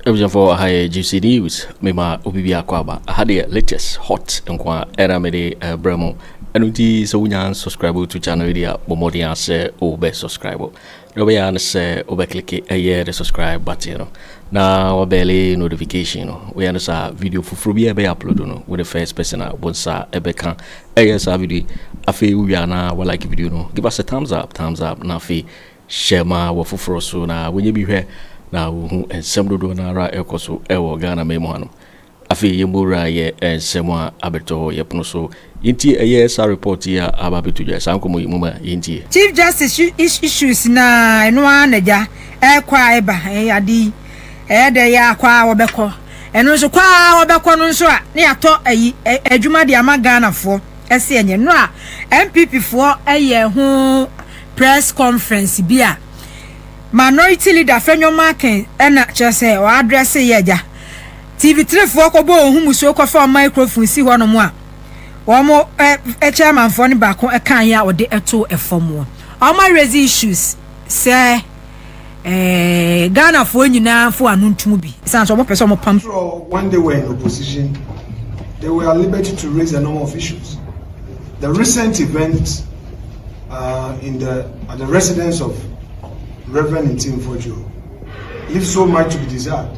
abusuafoɔ aha yɛ juicy news mema obi bi akɔ aba aha deɛ latest hot nko a ɛna mede ɛbrɛ eh, mu ɛno nti sɛ wonya subscribe to channel yi deɛ bɔ mmɔden asɛ wobɛ subscribe Wobɛyɛ ara ne sɛ wobɛklike ɛyɛ the subscribe button no na wabɛle notification no. Woyɛ no saa a, video foforɔ biara ɛbɛyɛ upload no, wo ne first person a wo nsa ɛbɛka ɛyɛ saa video yi. Afei wowie a na walike video no, give us a thumbs up, thumbs up, na afei share ma w'afoforɔ so na wɔnyɛ bi hwɛ na wɔhu nsɛm dodoɔ no ara a ɛrekɔ so ɛwɔ Ghanaman mu hanom. Afei yɛn mu wura yɛ nsɛm a abɛtɔ yɛ pono so. Yɛntie ɛyɛ saa report yi a aba abɛto dwa saa nkɔmmɔ yi mu ma yɛntie. Chief Justice issues na ɛno ara na gya ɛrekɔ a ɛba ade yi ɛyɛ dɛ yɛ a kɔ a wɔbɛkɔ ɛno nso kɔ a wɔbɛkɔ no nso a ne yɛatɔ ayi adwuma de ama Ghanafoɔ ɛse ɛnyɛ nnora a NPP foɔ ɛyɛ ho press conference bi a Minority Leader Fenyo Markin ɛna kyerɛ sɛ ɔadrɛse yɛ gya TV trefoɔ kɔbɔ wɔn ho musuo kɔfa wɔn microphone si hɔnom a wɔn ɛ chairmanfoɔ no baako ɛka yɛ a wɔde ɛto ɛfam wɔn wɔn raise issues sɛ ɛɛ Ghanafoɔ nyinaa fo ano ntum bi san so wɔn pɛ sɛ wɔn pam. When they were in opposition, they were at liberty to raise a number of issues. The recent event uh, in the at the residence of Reverend Ntimfojo leaves so much to be desired.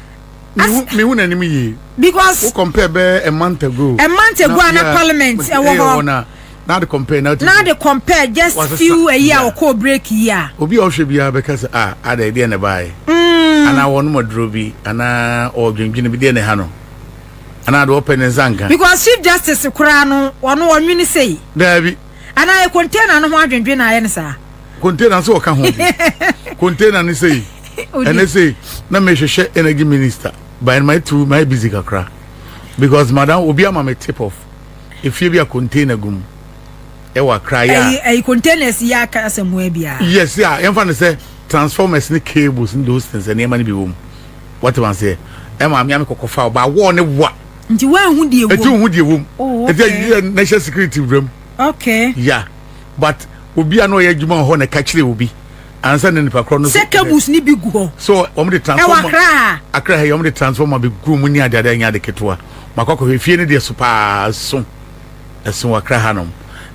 mehu n'anim yie because wo compare bɛɛ a month ago a month ago a na parliament ɛwɔ hɔ na na de compare na na de compare just few a year ɔkɔ break yi a obi a ɔhwɛ biara bɛka sɛ a ada ɛdeɛ na ɛbaeɛ mm. anaa wɔnom aduro bi anaa ɔdwendwene bi deɛ na ɛha no anaa de wɔpɛ ne nsa nka because chief justice koraa no ɔno ɔnwene sei daabi anaa yɛ container no ho adwendwen na ayɛ no saa container sɛ ɔka ho bi container no sei ɛnɛ sei na mehwehwɛ energy minister by my two my busy kakra because madam obi ama me tip off efie bi a container gum ɛwɔ akra yɛ a ɛyi containers yɛ aka asɛm ho abia yes a yɛmfa no sɛ transformers ne cables ne those things nneɛma no bi wɔ mu wɔte ma seɛ ɛma me ame kɔkɔfa ɔba awɔ ne wa nti woanhu deɛ wom ɛti wohu deɛ wom oh, okay. ɛti yɛ national security wura mu okay yeah but obi a na ɔyɛ adwuma wɔ hɔ na ɛka kyerɛ obi ansa na nipa korɔ no sɛ cables ne bi gu hɔ so wɔn de transformer ɛwɔ akra ha akra ha yɛ wɔn de transformer bi gu mu ne adeade anya ade ketewa makɔ akɔhwɛ efie ne deɛ so paa so ɛso wɔ akra ha nom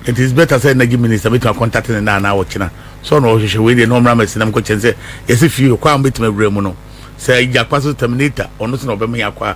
it is better sɛ energy minister bɛtumi akɔntate ne naa na ɔkyena so ɔna ɔhwehwɛ wei deɛ na ɔmmra mɛsi nam kɔkyɛn sɛ yɛsɛ fie kɔ a mɛtumi awura mu no sɛ gyakpa so terminator ɔno so na ɔbɛma yɛ akɔ a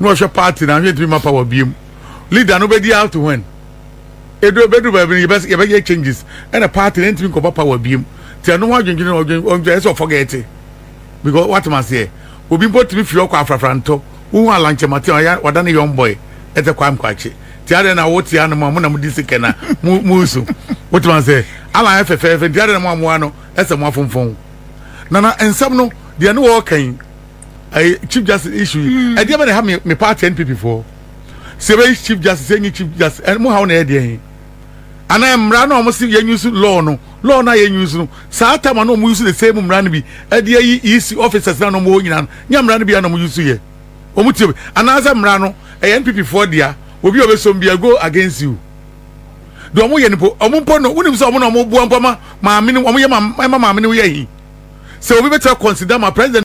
na ɔhwɛ party na ahwɛ ntumi ma power biem leader no bɛdi out when edu bɛdu baabi no yɛbɛ yɛbɛyɛ changes ɛna party na ntumi nkɔba power biem ti ɛno ho adwendwene na ɔdwen ɔdwen ɛsɛ ɔfɔgɛɛte because watem aseɛ obi mpo tumi fi ɔkɔ afrafra ntɔ wohu alankyɛmate a ɔyɛ ɔda ne young boy ɛtɛ kwa nkwakye ti adeɛ na wote ano mu a mo na mo di sikɛ na mo mo nsu wotem aseɛ alan yɛ fɛfɛɛfɛ ti adeɛ na mo amoa no ɛsɛ mo afonfɔn nana nsɛm no deɛ ne wɔɔka yi ɛyɛ chief justice issue yi mm. ɛdeɛ bɛ na ha mi mi party npp foɔ sɛ ɛbɛ yi chief justice ɛnyi chief justice ɛmu ha wɔn na ɛyɛ deɛ yi anaa mmara na wɔn si yɛn use law no law na yɛn use no saa tam na wɔn use the same mmara no bi ɛdeɛ yi ec officers na wɔn wɔ nyinaa no nyɛ mmara no bi na wɔn use yɛ wɔn ti anaasɛ mmara no ɛyɛ npp foɔ deɛ obi a ɔbɛ so bi go against you deɛ wɔn yɛ no po wɔn mpo no wɔn nim sɛ wɔn na wɔn boa mpo ma maame no wɔn yɛ ma ɛma maame no yɛ yi. sɛ obi bɛtumi akɔnsida ma president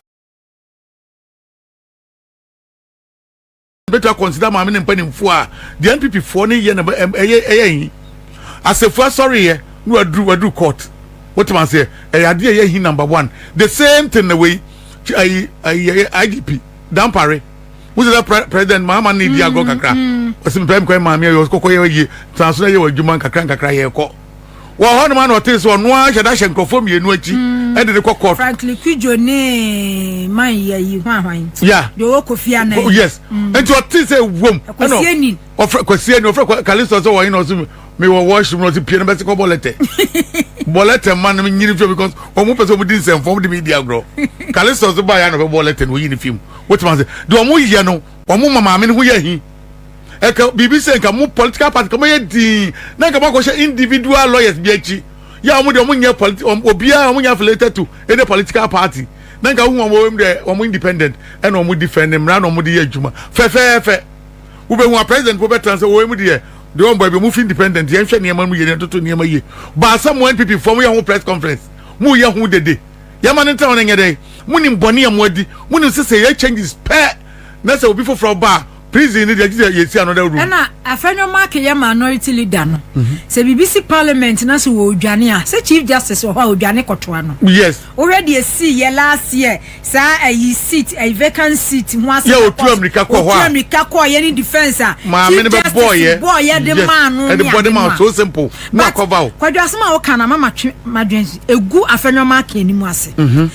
bɛtumi akɔnsida maame ne mpanimfoɔ a deɛ npp foɔ no yɛ na ɛyɛ ɛyɛ yi asɛfo asɔre yɛ na waduru waduru court wotumi aseɛ ɛyɛ adeɛ ɛyɛ yi number one the same thing na wei ayi ayi igp dampare wosɛ sɛ president mahama ne di agorɔ kakra ɔsɛ mepɛ mekɔ yɛ maame ayɛ ɔkɔkɔ yɛ yie transo na yɛ wɔ adwuma nkakra nkakra yɛ kɔ wɔ hɔ nom a na ɔtee sɛ ɔno ara hyɛ da hyɛ nkurɔfoɔ mmienu akyi hmm. de ne kɔ court. frankly kudjo ne man yɛ yi ho ahwan. ya deɛ ɔwɔ kofi anan. Oh, yes hmm. nti ɔtee sɛ wom. ɛkɔsi enin. ɔfrɛ kɔsi enin ɔfrɛ kalisto sɛ wɔyɛ na ɔsɛ mi wɔ wɔɔhyi mu na ɔsɛ pie na bɛsi kɔ bɔlɛtɛ bɔlɛtɛ mma no nyini fi because wɔn pɛ sɛ wɔn di nsɛmfo wɔn de mi di agorɔ kalisto sɛ baa yɛ na ɔbɛ bɔlɛtɛ na oyi ne fi mu wotuma sɛ deɛ wɔn yɛ no wɔn ma maame no ho yɛ hin. ɛka biribi sɛ nka mo political party ka moyɛ dii na nka moakɔhyɛ individual lawyers bi akyi yɛ a wɔn deɛ wɔn nyɛ politi wɔn obiara wɔn nyɛ affiliated to any political party na nka wohu wɔn wɔn deɛ wɔn independent ɛna wɔn defend ne mmara na wɔn de yɛ adwuma fɛfɛɛfɛ wobɛhu a president po bɛtena sɛ wɔn mu deɛ deɛ wɔn bɔ ebi wɔn fi independent yɛn hwɛ nneɛma mu yɛ nneɛma toto nneɛma yie baasa mo npp fam yɛ ho press conference mo yɛ ho dede yɛma ne ntina wɔn nyɛ dɛ mo nim bɔnne a mo adi mo nim sɛ sɛ yɛ changes pɛɛ. na sɛ obi foforɔ ba a prison no deɛ gye sɛ yɛsi another room. ɛna afɛnwo mark yɛ minority leader no mhm. sɛ biribi si parliament na sɛ wɔredwane a sɛ chief justice wɔ hɔ a ɔdwane kɔtoa no yes wohwɛ deɛ sii yɛ last year saa ayi seat ayi vacant seat ho asɛ yɛ ɔtu amirika kɔ hɔ a ɔtu amirika kɔ yɛ ne defence a maame no bɛ bɔɔ yɛ bɔɔ yɛ de maa no ne ade ma so simple na akɔva o kwadwasɛm a woka na mama twe madwen egu afɛnwo mark anim ase mhm.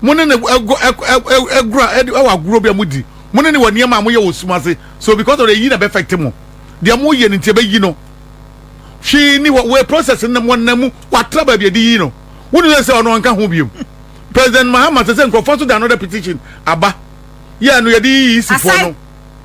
Mo ne no ɛgɔ ɛkɔ ɛkɔ ɛgora ɛdi ɛwɔ agorɔ bi a mo di. Mo ne no wɔ nneɛma a mo yɛ wɔ sum ase. So because of the eyi na ɛbɛ affect mo. Deɛ mo yɛ no nti ɛbɛ yi no. Hwee ni hɔ wɔ process no wɔ nam mu wɔ atra baabi ɛde yi no. Wo nim sɛ ɔno ɔnka ho biom. President Mahama sɛ sɛ nkorɔfoɔ nso da another petition aba. Yɛ ɛno yɛde yi EC foɔ no. Aside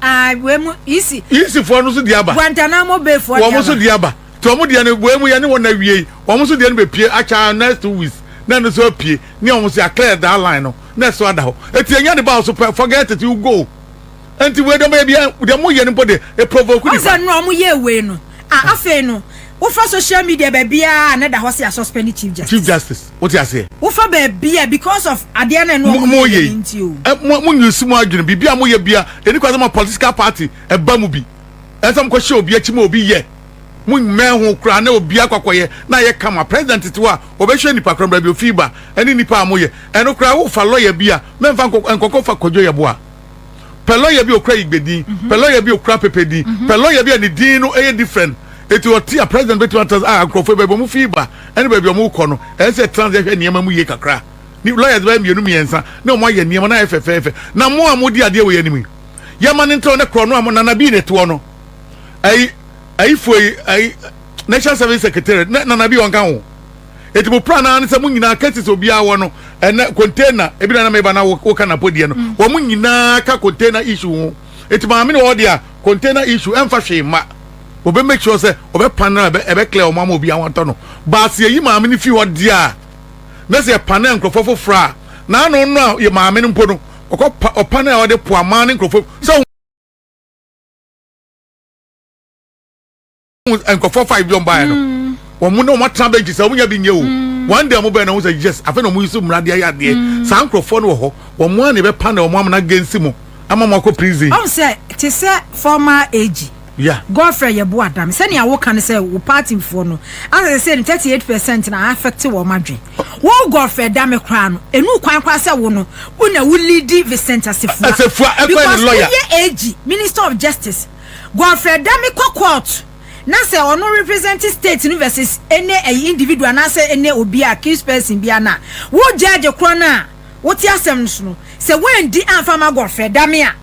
ah wei mo EC. EC foɔ no nso deɛ aba. Guantanamo Bay foɔ deɛ aba. Wɔn nso deɛ aba. nti wɔn deɛ no wei mu yɛne wɔn awiei wɔn nso deɛ no bɛpie akyɛ ara next two weeks na ɛno nso apue ne wɔn nso yɛaclear that line no na ɛso ada hɔ ɛti ɛnya de ba wo so pɛ forget it you go ɛnti wei deɛ ɔmɛyɛ bia deɛ mo yɛ no mpo de ɛprovoke nipa ɔsɛ no ɔmo yɛ wei no a afei no wofa social media baabiara a na da hɔ sɛ yɛasuspend chief justice chief justice wote aseɛ wofa baabia because of adeɛ no ɛno ɔmo yɛ nti o mo nyusi mo adwene biribi a mo yɛ bia ɛni kwa sɛ ma political party ɛba mu bi ɛsɛ mo kɔhyɛ obi akyi ma obi yɛ mo mmɛn ho koraa na obi akɔkɔyɛ na ayɛ kama president tete a ɔbɛhwɛ nipa koraa baabi ofii ba ɛne nipa a moyɛ ɛno koraa wofa lɔya bi a mɛmfa nkɔkɔ fa kɔdwo yɛ boa pɛ lɔya bi okura igbe din mhm. pɛ lɔya bi okura pepe din mhm. pɛ lɔya bi a ne din no ɛyɛ different eti ɔte a president bɛtumi ata a ah, nkurɔfoɔ baabi ɔmo fii ba ɛne baabi ɔmo kɔ no ɛsɛ trans yɛhwɛ nneɛma mu yie kakra ne lɔya bɛyɛ mmienu mmiɛnsa ne ɔmo ayɛ nneɛma na ayɛ fɛfɛɛfɛ na mo a mo di adeɛ wɔ yɛ anim yi yɛ ma ne ntrɛw ne korɔ no a mo nana bii ne toɔ no ayi ayifoɔ yi ayi national service secretary ne nana bi ɔnka ho eti mo plan naa ne sɛ mo nyinaa cases obiara wɔ no ɛnɛ container ebi na na meba na woka na podiɛ no mm. wɔn mo nyinaa ka container issue ho eti maame na ɔde a container issue ɛnfa hwee ma wɔbɛ make sure sɛ wɔbɛ pan na ɛbɛ ɛbɛ clear wɔn ama obiara wɔn atɔ no baasi eyi maame ne fi hɔ deɛ a na sɛ ɛpan na nkorɔfoɔ foforɔ a na ano no a yɛ maame no mpo no. ɔkɔ pa ɔpa no a ɔde po aman ne nkurɔfoɔ sɛ nkurɔfoɔ five bi wɔn baeɛ no mm. wɔn mu na wɔn atena bɛnkyi sɛ wɔn nya bi nyɛ o mm. one day wɔn bɛn na wɔn sɛ yes afei na wɔn yi so mmara de ayɛ adeɛ mm. saa nkurɔfoɔ no wɔ hɔ wɔn mu a na ɛbɛpa na wɔn amena gɛnsi mu ama wɔn akɔ prison. ɔn sɛ te sɛ formal age. Yeah. Godfrey Yeboah Adame, sɛnea woka no sɛ wo party foɔ no asɛ sɛ no 38 percent na affect wɔn adwen. Wo Godfrey Adame koraa no, ɛnu kwan koraa sɛ wo no, wo na wo leadi Vincent Asefua. Asefua, ɛkwan ne lawyer. Because woyɛ AG, Minister of Justice. Godfrey Adame kɔ court na sɛ ɔno represent state no versus ɛne ɛyi individual anaasɛ ɛne obi a accused person bia no a, wo judge korɔ no a wote asɛm no so no, sɛ woandi amfa ma Godfrey Adame a,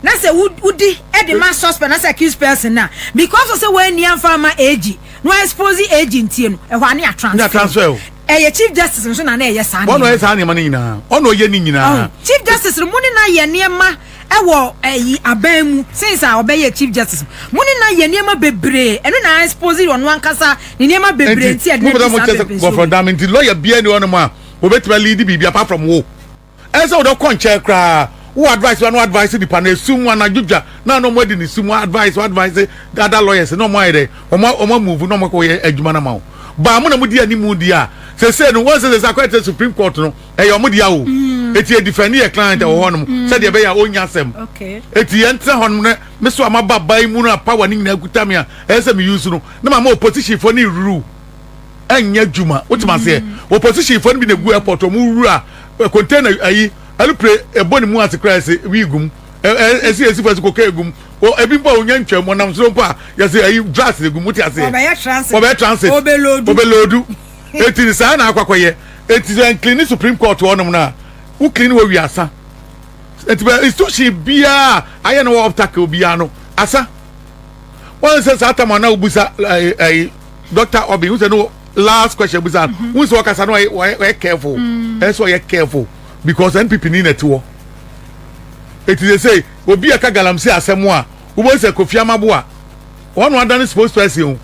na sɛ wodi de ma suspect na sɛ accused person na because of sɛ wɔanni amfa ama AG na wɔexpose AG ntie no ɛhɔ a ne yɛ transfer ɛyɛ chief justice nso na na ɛyɛ saa nneɛma ɔno ɔyɛ saa nneɛma no nyinaa ɔno ɔyɛ ne nyinaa chief justice no mu ne na yɛ nneɛma ɛwɔ ɛyi aban mu since a ɔbɛyɛ chief justice mu ne na yɛ nneɛma bebree ɛno na expose ɔno ankasa ne nneɛma bebree nti ɛde ne ti saa bebree so gɔfɔdam nti lɔya bia ni ɔno mu a obetuma lead biribi apart from wo. Ɛnsɛ sɛ wode kɔ nkyɛn koraa. Wo advice bia na advice nipa no ɛsum mu anadwo dwa na na ɔmo adi ne sum mu advice advice the other lawyers na ɔmo ayɛ dɛ ɔmo ɔmo amove na ɔmo akɔ yɛ adwuma no ama wo baa mo na mo di animu di a sese no wɔn sɛ sese akɔ ɛte supreme court no ɛyɛ ɔmo dea o eti yɛ defend yɛ client ɛwɔ hɔ nom sɛ deɛ ɛbɛyɛ a ɔnya asɛm eti yɛn tena hɔ nom ne me so ama ba ba yi mu no a power ne nyinaa kuta me a ɛyɛ sɛ me use no ne ma ma opposition fo ne ruru ɛnyɛ adwuma wotim aseɛ mm. opposition fo no bi na gu airport ɔmo wura eh, container ayi alupre ɛbɔ ne mu ase koraa ɛsɛ wii gum ɛsi ɛsi fo ɛsɛ kokain gum ebi mpo a onya ntwam ɔnam soro mpo a yɛsɛ ayi drugs na gum wote aseɛ ɔbɛyɛ transit ɔbɛloodu eti saa na akɔ akɔyɛ eti sɛ nkilini supreme court wɔnom na wo kilini wɔ wi asa eti bɛ institution biara ayɛ na wɔ obstacle biara no asa wɔn sɛ saa tam a na obusa ɛɛ ɛɛ. Dɔkta Obi, n sɛ no last question bisa no, mm-hmm. n sɛ ɔkasa no ɔyɛ careful, mm. ɛsɛ ɔyɛ careful because NPP ni na ɛte hɔ. Eti sɛ sɛ obi a ɛka galamsey asɛm a, wobɛhu sɛ Kofi Amaboa, ɔno adane spokesperson o,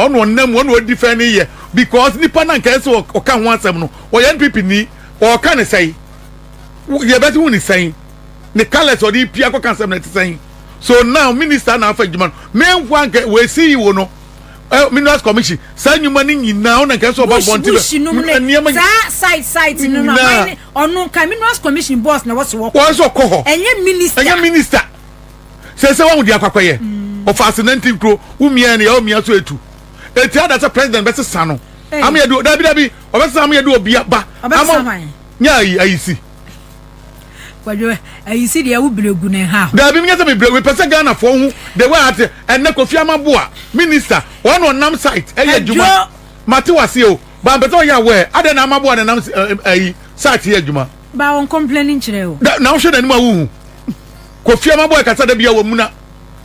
ɔno ɔnam ɔno ɔdi fɛn ne yɛ because nipa na nka ɛsɛ ɔka ho asɛm no, ɔyɛ NPP ni, ɔka ne sɛn, yɛbɛte ho ne sɛn, ne colours ɔde pia kɔka asɛm na ɛte sɛn. So now minister na afa adwuma no, mɛnfoa nka wɔasi yi wo no, eh, minerals commission saa nnwuma no nyinaa ɔna nkae sɛ ɔba bɔnte bɛ nneɛma saa side side no no aman ne ɔno nka minerals commission boss na wɔsɛ wɔkɔ wɔn sɛ ɔkɔ hɔ ɛnyɛ minister ɛnyɛ minister sɛ sɛ wɔn de akɔkɔ yɛ mm. ɔfa ase nanti nkuro wumia ne yɛ omia so etu eti ada sɛ president bɛ sesa no eh. ameyɛ de dabi dabi ɔbɛ sesa ameyɛ de obi aba ama nyɛ ayi ayi si. kwadwo ayi si deɛ wo bere gu ne ha. daabi menyɛ sɛ mebrɛ wepɛ sɛ ghanafoɔ ho the way ate ɛnɛ kofi amaboa minister wɔn na ɔnam site ɛyɛ adwuma mate waseɛ o ba mpɛ sɛ ɔyɛ aware adɛn na amaboa na nam ayi site yɛ adwuma ba wɔn complaining kyerɛ o da na wohwɛ n'anim a wohu kofi amaboa ɛkasa da bia wɔ muna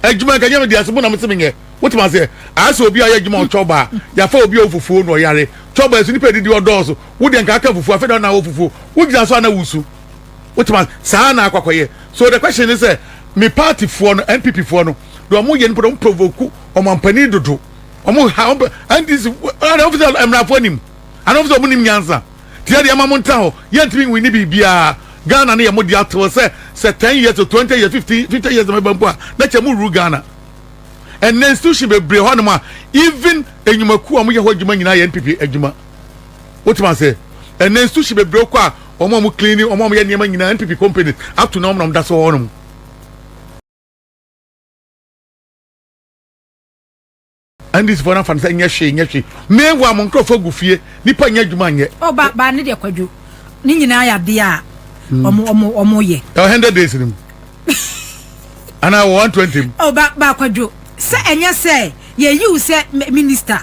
adwuma nka nyɛ me deɛ asɛmu na mese menyɛ wotumi aseɛ ayɛ sɛ obi a ɔyɛ adwuma ɔtwɔ baa yafa obi a ɔfufuo na ɔyare twɔ baa so nipa adidi ɔdɔɔso wo deɛ nka aka fufuo afei na na wɔ fufuo wogyina so a na wusu wotuma saa na akɔkɔyɛ so the question ne sɛ me party foɔ no npp foɔ no deɛ wɔn yɛ no pɛrɛ wɔn provoke ɔmampanin dodo wɔn ha wɔn pɛ ndc ɛna wɔn fi sɛ mmarafoɔ anim ana wɔn fi sɛ wɔn nim nyansa tiɛ deɛ ɛma mo nta hɔ yɛntumi nwi ne biribiara ghana ne yɛ mo deɛ atew sɛ sɛ ten years o twenty years fifty fifty years na ɛbɛn mpo a na kyɛ mo ruru ghana ɛnna institution bebree hɔ nom a even enyumakuo a wɔn yɛ hɔ adwuma nyinaa yɛ npp adwuma. wotuma se ɛnɛ nsu hye bebree kɔ a wɔn a wɔn clean ne wɔn a wɔyɛ nneɛma nyinaa npp company ato na wɔn na wɔn da so wɔ hɔnom. ndc fo n'afa no sɛ nyɛ hwee nyɛ hwee meanwhile mo nkurɔfoɔ gu fie nipa nyɛ adwuma nyɛ. ɔ ba ba ne deɛ kwadwo ne nyinaa yɛ adeɛ a ɔmo ɔmo ɔmo yɛ. ɛ hundred days ni mu anaa wɔ one twenty mu. ɔ ba ba kwadwo sɛ ɛnyɛ sɛ yɛ yiw sɛ minista.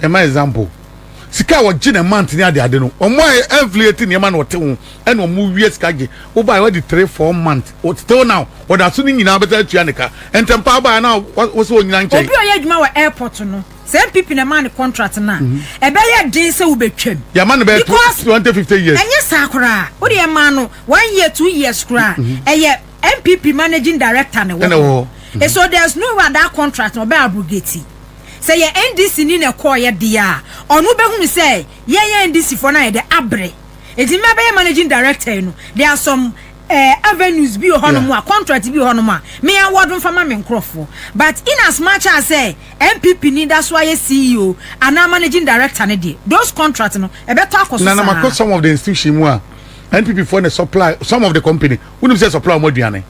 ɛma example sika a wɔgye na month ne adeade no wɔn a ɛnflate nneɛma na wɔte ho ɛna wɔn wie sika gye wobae wɔde three four month still now wɔda so ne nyinaa bɛsɛ atua ne ka ntɛmpa abae na wɔsɛ wɔnyina nkyɛn. obi a ɔyɛ adwuma wɔ airport no sɛ npp na ɛma ne contract no a mhm. ɛbɛyɛ den sɛ wobɛtwam yɛma no bɛyɛ twenty fifty years ɛnyɛ saa koraa wode ɛma no one year two years koraa mhm. ɛyɛ npp managing director ne wɔ hɔ so there's no way that contract ɔbɛ abrogate sɛ yɛ NDC ni na ɛkɔɔeɛ deɛ a, ɔno bɛhunu sɛ yɛn yɛ NDC foɔ no ayɛ dɛ abre. Ɛti mɛ bɛyɛ managing director yi no, there are some uh, avenues bi wɔ hɔ nom a, contract bi wɔ hɔ nom a, me award mfa ma me nkorɔfoɔ. But in as much as sɛ NPP ni da so ayɛ CEO anaa managing director no deɛ, those contract no, ɛbɛtɔ akɔ so saa. Na na makɔ some of the institution mu a, NPP foɔ na supply some of the company, wonim sɛ supply wɔn aduane.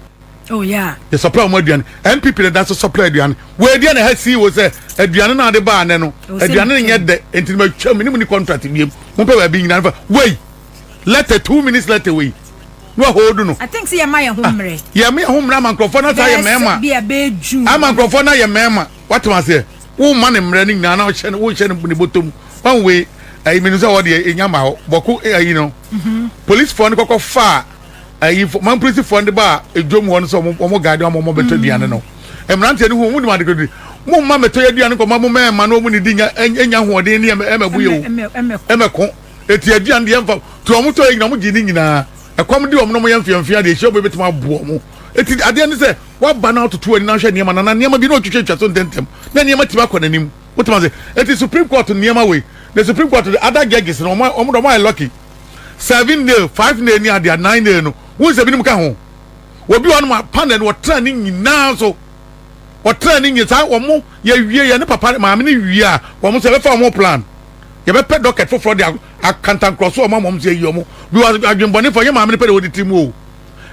Oh yeah. Yɛ supply wɔn aduane. NPP na danso supply aduane. Wɔ aduane na ha sii wɔ sɛ aduane na ade baa anɛ no. Aduane no nyɛ dɛ nti na matwa mu ne mu ni contract biem. Mo pɛ baabi nyina fa. Wei letter two minutes letter wei. No a hold no. I think sɛ yɛ ma yɛ ho ah, mmerɛ. Yɛ ma yɛ ho mmerɛ ama nkurɔfoɔ na saa yɛ mɛɛma. Bi a bɛɛ ju. Ama nkurɔfoɔ na yɛ mɛɛma. Wate ma seɛ. Wo ma ne mmerɛ ne nyinaa na wohyɛ ne wohyɛ ne bɔtɔ mu. Wɔn wei ɛyi mi no sɛ wɔde ɛnya ma hɔ. Bɔko ɛyi no. Policefoɔ no kɔkɔ faa. ayi fo man polisi fo de ba edwom hɔ no sɛ wɔn wɔn gaade wɔn wɔn bɛtɔ aduane no mmeranteɛ no ho wɔn de wɔn adekododi mo mma mɛtɔ yɛ aduane kɔ ma mo mɛɛma na wɔn ne di nya nya ahoɔden ne ɛmɛ ɛmɛ bu yɛ o ɛmɛ ko eti aduane deɛ nfa to wɔn tɔ yɛ nyina wɔn gye ne nyinaa ɛkɔm de wɔn na wɔn yɛ mfeamfea deɛ ehyia wɔn ebetuma aboɔ wɔn eti adeɛ ne sɛ waba na ɔtoto ani na ahwɛ nneɛma na na nneɛma bi na ɔtwitwa twa so ntɛntɛm na nneɛma ti ba kɔ n'anim wotuma se eti supreme court nneɛma wei the supreme court the other judges na wɔn wɔn wɔn ayɛ lucky. seven nail, five nail ne adeɛ a nine nail no wohu sɛ binom ka ho obi wɔnom a panel no ɔtena ne nyinaa so ɔtena ne nyinaa saa wɔn yɛwie yɛ ne papa maame ne wie a wɔn sɛ bɛfa wɔn plan yɛbɛpɛ docket foforɔ de akantankorɔ so wɔn a wɔn sɛ yi wɔn bi wɔ adwembɔne fɔ yɛ maame ne pɛ de wɔde tiri mu o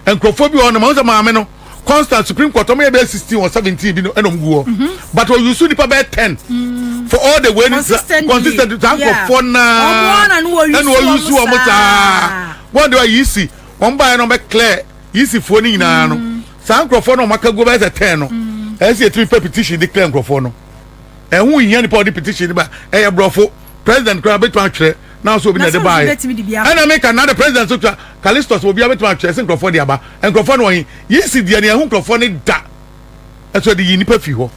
nkurɔfoɔ bi wɔ hɔ nom ɔhu sɛ maame no constant supreme court ɔmo yɛ bɛyɛ sixteen or seventeen bi no ɛna ɔmo gu hɔ mhm. but ɔyu su nipa bɛyɛ ten mm. for all the way ni consistently saa nkurɔfoɔ naa ɛna ɔyu su ɔmo saa wɔn de wa yi si wɔn ba yɛ na ɔmo bɛ clear yi si foɔ ne nyinaa no mm. saa nkurɔfoɔ no ɔmo aka gu bɛyɛ sɛ ten no mm. ɛyɛ sɛ yɛtumi pɛ petition de clear nkurɔfoɔ no ɛho hia nipa ɔde petition ba ɛyɛ borɔfo president koraa bɛtumi atwerɛ na nso obi na ɛde baa yɛ ɛna mi ka na de president so twa kalistos obi abɛtuma atwa ɛsi nkurɔfoɔ de aba nkurɔfoɔ no wɔn yi si deɛ ne ɛho nkurɔfoɔ ne da ɛso ɛde yi nipa fi hɔ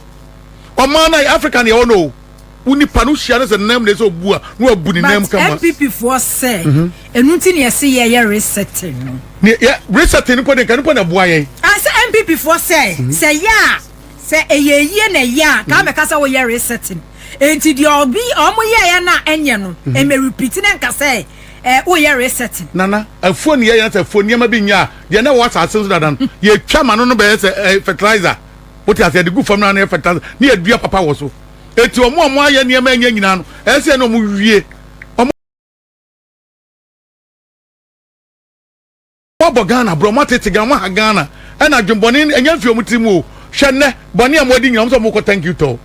ɔmaa na africa ne ɛwɔ no o wo nipa no hyia no sɛ nam na ɛsɛ obu a na wabu ne nam kama but npp foɔ sɛ mhm. ɛnu ti ne ɛse yɛ yɛ resetting no ne yɛ resetting nipa de nka nipa na ɛboa yɛn asɛ ah, npp foɔ sɛ mhm. sɛ yɛ a sɛ ɛyɛ yie na ɛyɛ a kaa mɛka sɛ woyɛ resetting Enti deɛ ɔbi ɔmo yɛɛyɛ no a ɛnyɛ no, ɛmɛ repeat na nka sɛ ɛɛ woyɛ resetting. Nana, afuo ne yɛyɛ sɛ afuo nneɛma bi nyɛ a, deɛ na ɛwɔ asase no so dada no, yɛtwa ma no no bɛyɛ sɛ ɛɛ fertilizer. Wote aseɛ? Yɛde gu fam no ara na ɛyɛ fertilizer na yɛdua papa wɔ so. Enti ɔmo a ɔmo ayɛ nneɛma a ɛnyɛ nyinaa no, ɛyɛ sɛ yɛn na ɔmo wie. Moabɔ Ghana brɛ, moatete Ghana, moaha Ghana ɛna adwenbɔne ɛnyɛ mfi ɔmo tiri mu o, hwɛ nnɛ bɔne a moadi nyina ɔmo sɛ ɔmo kɔ thank you tour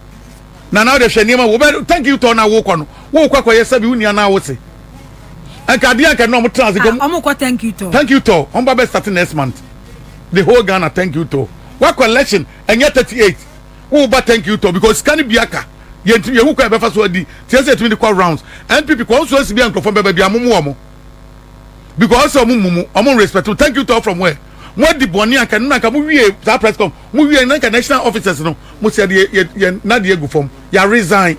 Nana wode hwɛ nneɛma wobɛ thank you tour no a wokɔ no wokɔ akɔyɛ sɛbi wonni anaa wose ɛnka adeɛ anka nnɛ ɔmo tena ase ah, ɔmo kɔ thank you tour thank you tour ɔmo ba bɛ start next month the whole Ghana thank you tour wakɔ election ɛnyɛ 38 woba thank you tour because sika no bi aka yɛntumi yɛhu kɔ ɛbɛfa so adi tiɛ sɛ yɛtumi de kɔ rounds NPP kɔ nso ansi bi a nkurɔfoɔ bɛba bi amomo ɔmo because ɔsɛ ɔmo mumu ɔmo respect thank you talk from where mo adi bɔnne anka no nanka mo wie saa press com mo wie nanka national officers no mo sɛ yɛ yɛ yɛ nadi egu fam yɛ resign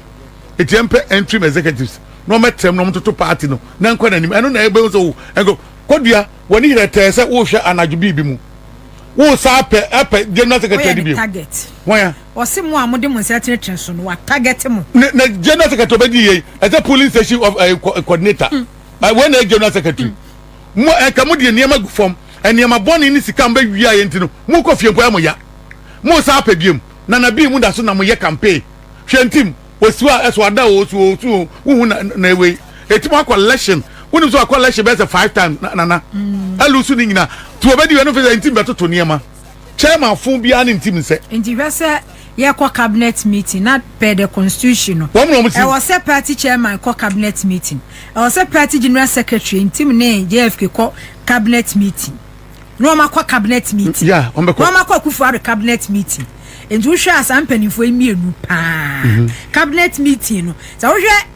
eti yɛn pɛ entrim executives na ɔmo ɛtɛm na ɔmo toto party no na nkɔ n'anim ɛno na ɛbɛn so ɛnko kɔdua wɔn ni yɛrɛ tɛɛ sɛ wɔrehwɛ anadwo biribi mu wɔresa apɛ apɛ general secretary de bi wɔn ya. Ɔse mo a mode mo nsa tenetene so no wa target mo. Ne ne general secretary obedi yei ɛsɛ polling station of ɛɛ eh, coordinator ɛɛ eh, wei na ɛyɛ general secretary mo ɛɛ eh, ka mo deɛ nneɛma gu fam nneɛma bɔne ne sika mbɛ wia yɛ nti no mo kɔ fie mpo ɛyɛ mo ya mo san apɛ biem nana bii mo da so na mo yɛ campaign hwɛ ntim osuo a ɛso ada o osuo osuo o wohu na na ewei eti mo akɔ election wonim so akɔ election bɛyɛ sɛ five times na nana ɛlu mm. so ne nyina ti obedi yɛ no fɛ sɛ ntim bɛtoto nneɛma. Chairman fo biara ne ntim nsɛ. Nti hwɛ sɛ yɛ kɔ cabinet meeting na per the constitution no. Wɔn na wɔn ti. Ɛwɔ sɛ party chairman kɔ cabinet meeting. Ɛwɔ sɛ party general secretary ntim ne JFK kɔ cabinet meeting. Na wɔn akɔ cabinet meeting. Yeah, wɔn bɛkɔ. Na wɔn akɔ akufo ado cabinet meeting. Nti wohwɛ a saa mpanimfoɔ yi mmienu paa. Mm-hmm. Cabinet meeting no. Sɛ wohwɛ.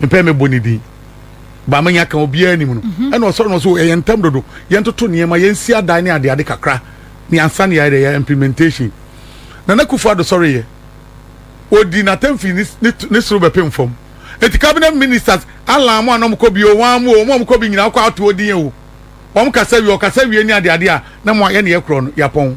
mepɛ mebɔ ne din ba menya ka obiara anim no mhm. ɛna ɔsɔre no so ɛyɛ ntam dodo yɛntoto nneɛma yɛnsi adan ne adeade kakra ne ansa ne yɛayɛ yɛ implementation nana kufu ado sɔre yɛ odi n'atamfi ne soro bɛpem fam eti cabinet ministers alan mu anam kɔ bi o wɔn amu o wɔn a wɔkɔ bi nyinaa kɔ ato odin o wɔn kasa wie ɔkasa wie ne adeade a na mo ayɛ ne yɛ korɔ no yapɔn.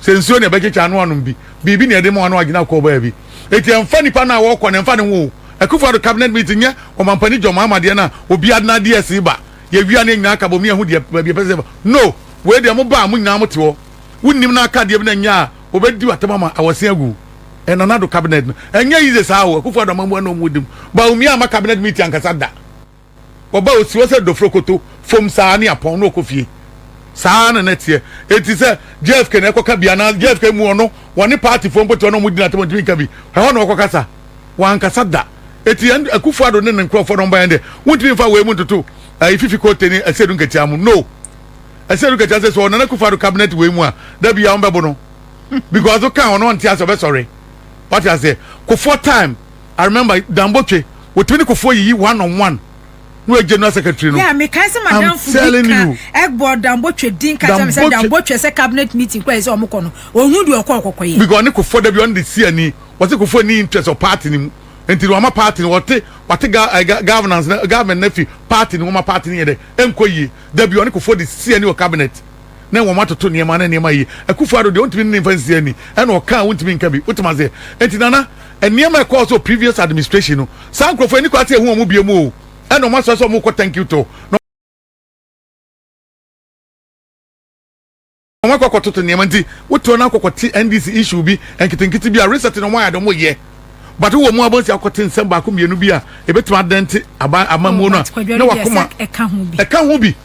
sɛ nsuo na ɛbɛkyekyɛ ano anom bi biribi na ɛde ma ano agyina kɔɔ baabi eti ɛnfa nipa no a wɔkɔ no ɛnfa ne ho akufo ado cabinet meeting nyɛ ɔmampani john mahama deɛ no a obiara de n'adeɛ ɛsi ba yɛwia no yɛn nyinaa ka bɔ mu yɛho deɛ baabi ɛpɛ sɛ ɛba no wei deɛ mo ba a mo nyinaa mo te hɔ wonim no aka adeɛ bi na nyɛ a obɛdi atam ama awɔse agu ɛna n'ado cabinet no ɛnyɛ yize saa o akufo ado amamua na ɔmo dim baumia ama cabinet meeting ankasa da wɔba osi hɔ sɛ dofrokoto fom saa ne apɔn na ɔkɔ fie saa na na ɛteɛ eti sɛ JFK na ɛkɔka bi anaa JFK mu ɔno wɔne paatifoɔ mpo te hɔ na wɔn di n'atam ntumi nka bi ɛhɔ na ɔkɔkasa wankasa da eti ɛn akufo ado ne ne nkorɔfoɔ na wɔn ba yɛn deɛ wɔntumi nfa wei mu ntoto ɛyi fifi koote ne ɛsɛdu nketewa mu no ɛsɛdu nketewa sɛ sɛ ɔnana akufo ado cabinet wei mu a dabi a wɔn bɛbo no because ɔka ɔno ɔnte ase ɔbɛsɔre wɔte aseɛ kofoɔ time I remember Dan Botwe wɔtumi ne Kufuor yiyi one on one na wɔagye no as secretary no. Yeah, mekae sɛ madamfo bi ka ɛbɔ Dan Botwe din ka kyerɛ me sɛ Dan Botwe sɛ cabinet meeting kora ɛsɛ ɔmo kɔ no, ɔnhu deɛ ɔkɔ ɔkɔkɔ yɛ. Because ɔne Kufuor dabi ɔne de si ani, wɔse Kufuor nni interest wɔ party no mu nti no wama party no, wɔte wate ga eh, ga governance no, government no afi party no mu ma party no yɛ dɛ ɛnkɔ yie, dabi ɔne Kufuor de si ani wɔ cabinet. ne wɔn atoto nneɛma ne nneɛma yi. Akufo Addo deɛ ɔntumi ne ne mfa nsi ani, ɛna ɔka a wontumi nka bi. Wotem aseɛ? Enti Nana, nneɛma a ɛkɔɔ so previous administration no, saa nkorɔfoɔ yi nni kwan sɛ yɛhu wɔn bio o. Ɛna wɔn asɔre sɛ wɔn rekɔ thank you tour, na wɔn akɔ akɔtoto nneɛma. Nti wotoɔ na wokɔ kɔte NDC issue bi nketenkete bi a, research na wɔn ayɛ deɛ wɔyɛ. But wowɔ mu abonsi a wokɔte nsɛm baako mmienu bi a ɛbɛtumi adɛnte aban, amammuo no a, na wakoma ɛka ho bi.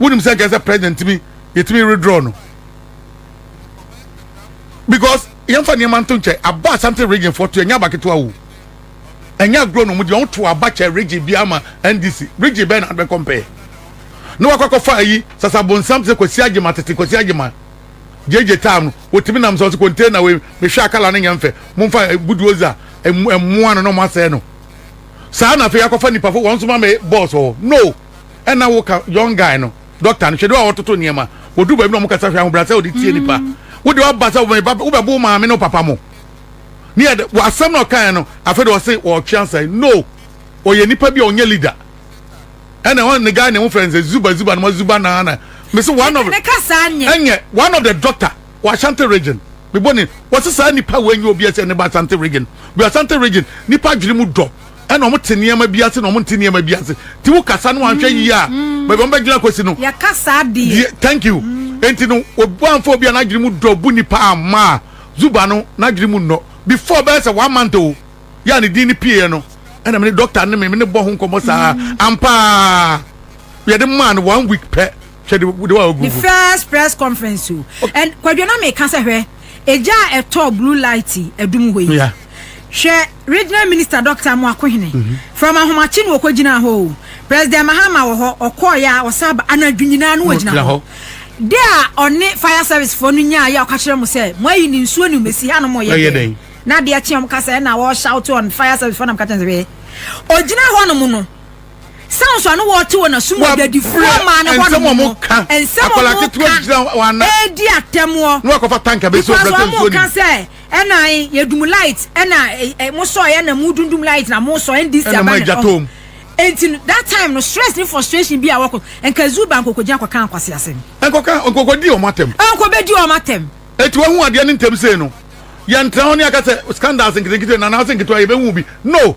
wonim sɛ nkɛsɛ president tumi yɛtumi redraw no because yɛmfa nneɛma nto nkyɛn aba asante region foɔ to ɛnyɛ aba ketewa o ɛnyɛ agorɔ na ɔmu deɛ ɔto aba kyɛ region bi ama ndc region bɛyɛ na adbɛ kɔmpɛɛ na wakɔ akɔfa ayi sasa bonsam te sɛ kwasi agyema tete kwasi agyema gyegye time no wɔtumi nam sɛ ɔsɛ container wei mehwɛ akala no nyɛ mfɛ momfa eh, budoza eh, mmoa no na ɔmo asɛe no saa na afei akɔfa nipa fo wɔn nso ma me bɔɔs wɔ no ɛna wo ka young guy no doctor no hwɛ de wa wɔtoto nneɛma wɔdu baabi na wɔn kasa hwɛ ahobrasɛ wɔde tie nipa mm. wo de waba sɛ wɔn ba wobɛ bo maame ne papa mo ne yɛ de wɔ asɛm na ɔkan no afɛ de ɔse wɔtwe ansa no ɔyɛ nipa bi a ɔnyɛ leader ɛna wɔn ne guy ne ho fɛ nsɛ zuba zuba na ma zuba na na mese one of ɛnyɛ one of the doctor wɔ ashanti region mebɔ ne wɔse saa nipa wɔ enyi obi ɛsɛ ne ba ashanti region bi ashanti region nipa adwene mu dɔ. ɛna wɔn te nneɛma bi ase na wɔn nte nneɛma bi ase ti wo kasa no anhwɛ yie a mm. baabi wɔn bɛ gyina kwasi no. yɛ kasa deɛ. thank you mm. nti no obi anfa obi a n'adwene mu dɔ bu nipa ama zuba no n'adwene mu nnɔ before bɛyɛ sɛ one month o yɛ a ne din ne pie yɛ no ɛna mi ne doctor ne mi mi ne bɔ ho nkɔmɔ saa mm. ampaa yɛde maa no one week pɛ. hwɛ de de wa ogu ne first press conference o ɛn kwadwo na meka sɛ hwɛ egya a ɛtɔ blue light ɛdum hɔ yi hwɛ regional minister doctor mo akohene mhm. from ahomakye na ɔkɔ gyina hɔ o president mahama wɔ hɔ ɔkɔɔ yɛ a ɔsa ba anadwo nyinaa no wɔ gyina hɔ de a ɔne fire service foɔ no nyaa yɛ a ɔka kyerɛ mo sɛ mo ayi ne nsuo ne mmesi ha no mo yɛ dɛn na adeɛ kyeɛ mo kasa ɛna wɔ shout on fire service foɔ nam ka kyerɛ sɛ hwɛ ɔgyina hɔ nom no sɛ nso ano wɔte wɔ n'asom wɔ adwadifoɔ maa no hɔ no mu no nsɛm ɔmo ka ɛredi atɛmoɔ because ɔmo ka sɛ ɛna yɛdum light ɛna mo sɔ ɛna mo dundum light na mo sɔ ndc aba na ɔmo nti that time no stress ne frustration bi a wɔkɔ nka zoo ba nkoko gyina kɔka nkwasi asɛm nkɔka nkoko di ɔmo atɛm nkɔ bɛ di ɔmo atɛm eti wɔn ho adeɛ ne ntɛm sei no yɛn tena hɔ ne akasɛ scandals nketenkete na anaasɛ nketewa yɛbɛhu bi no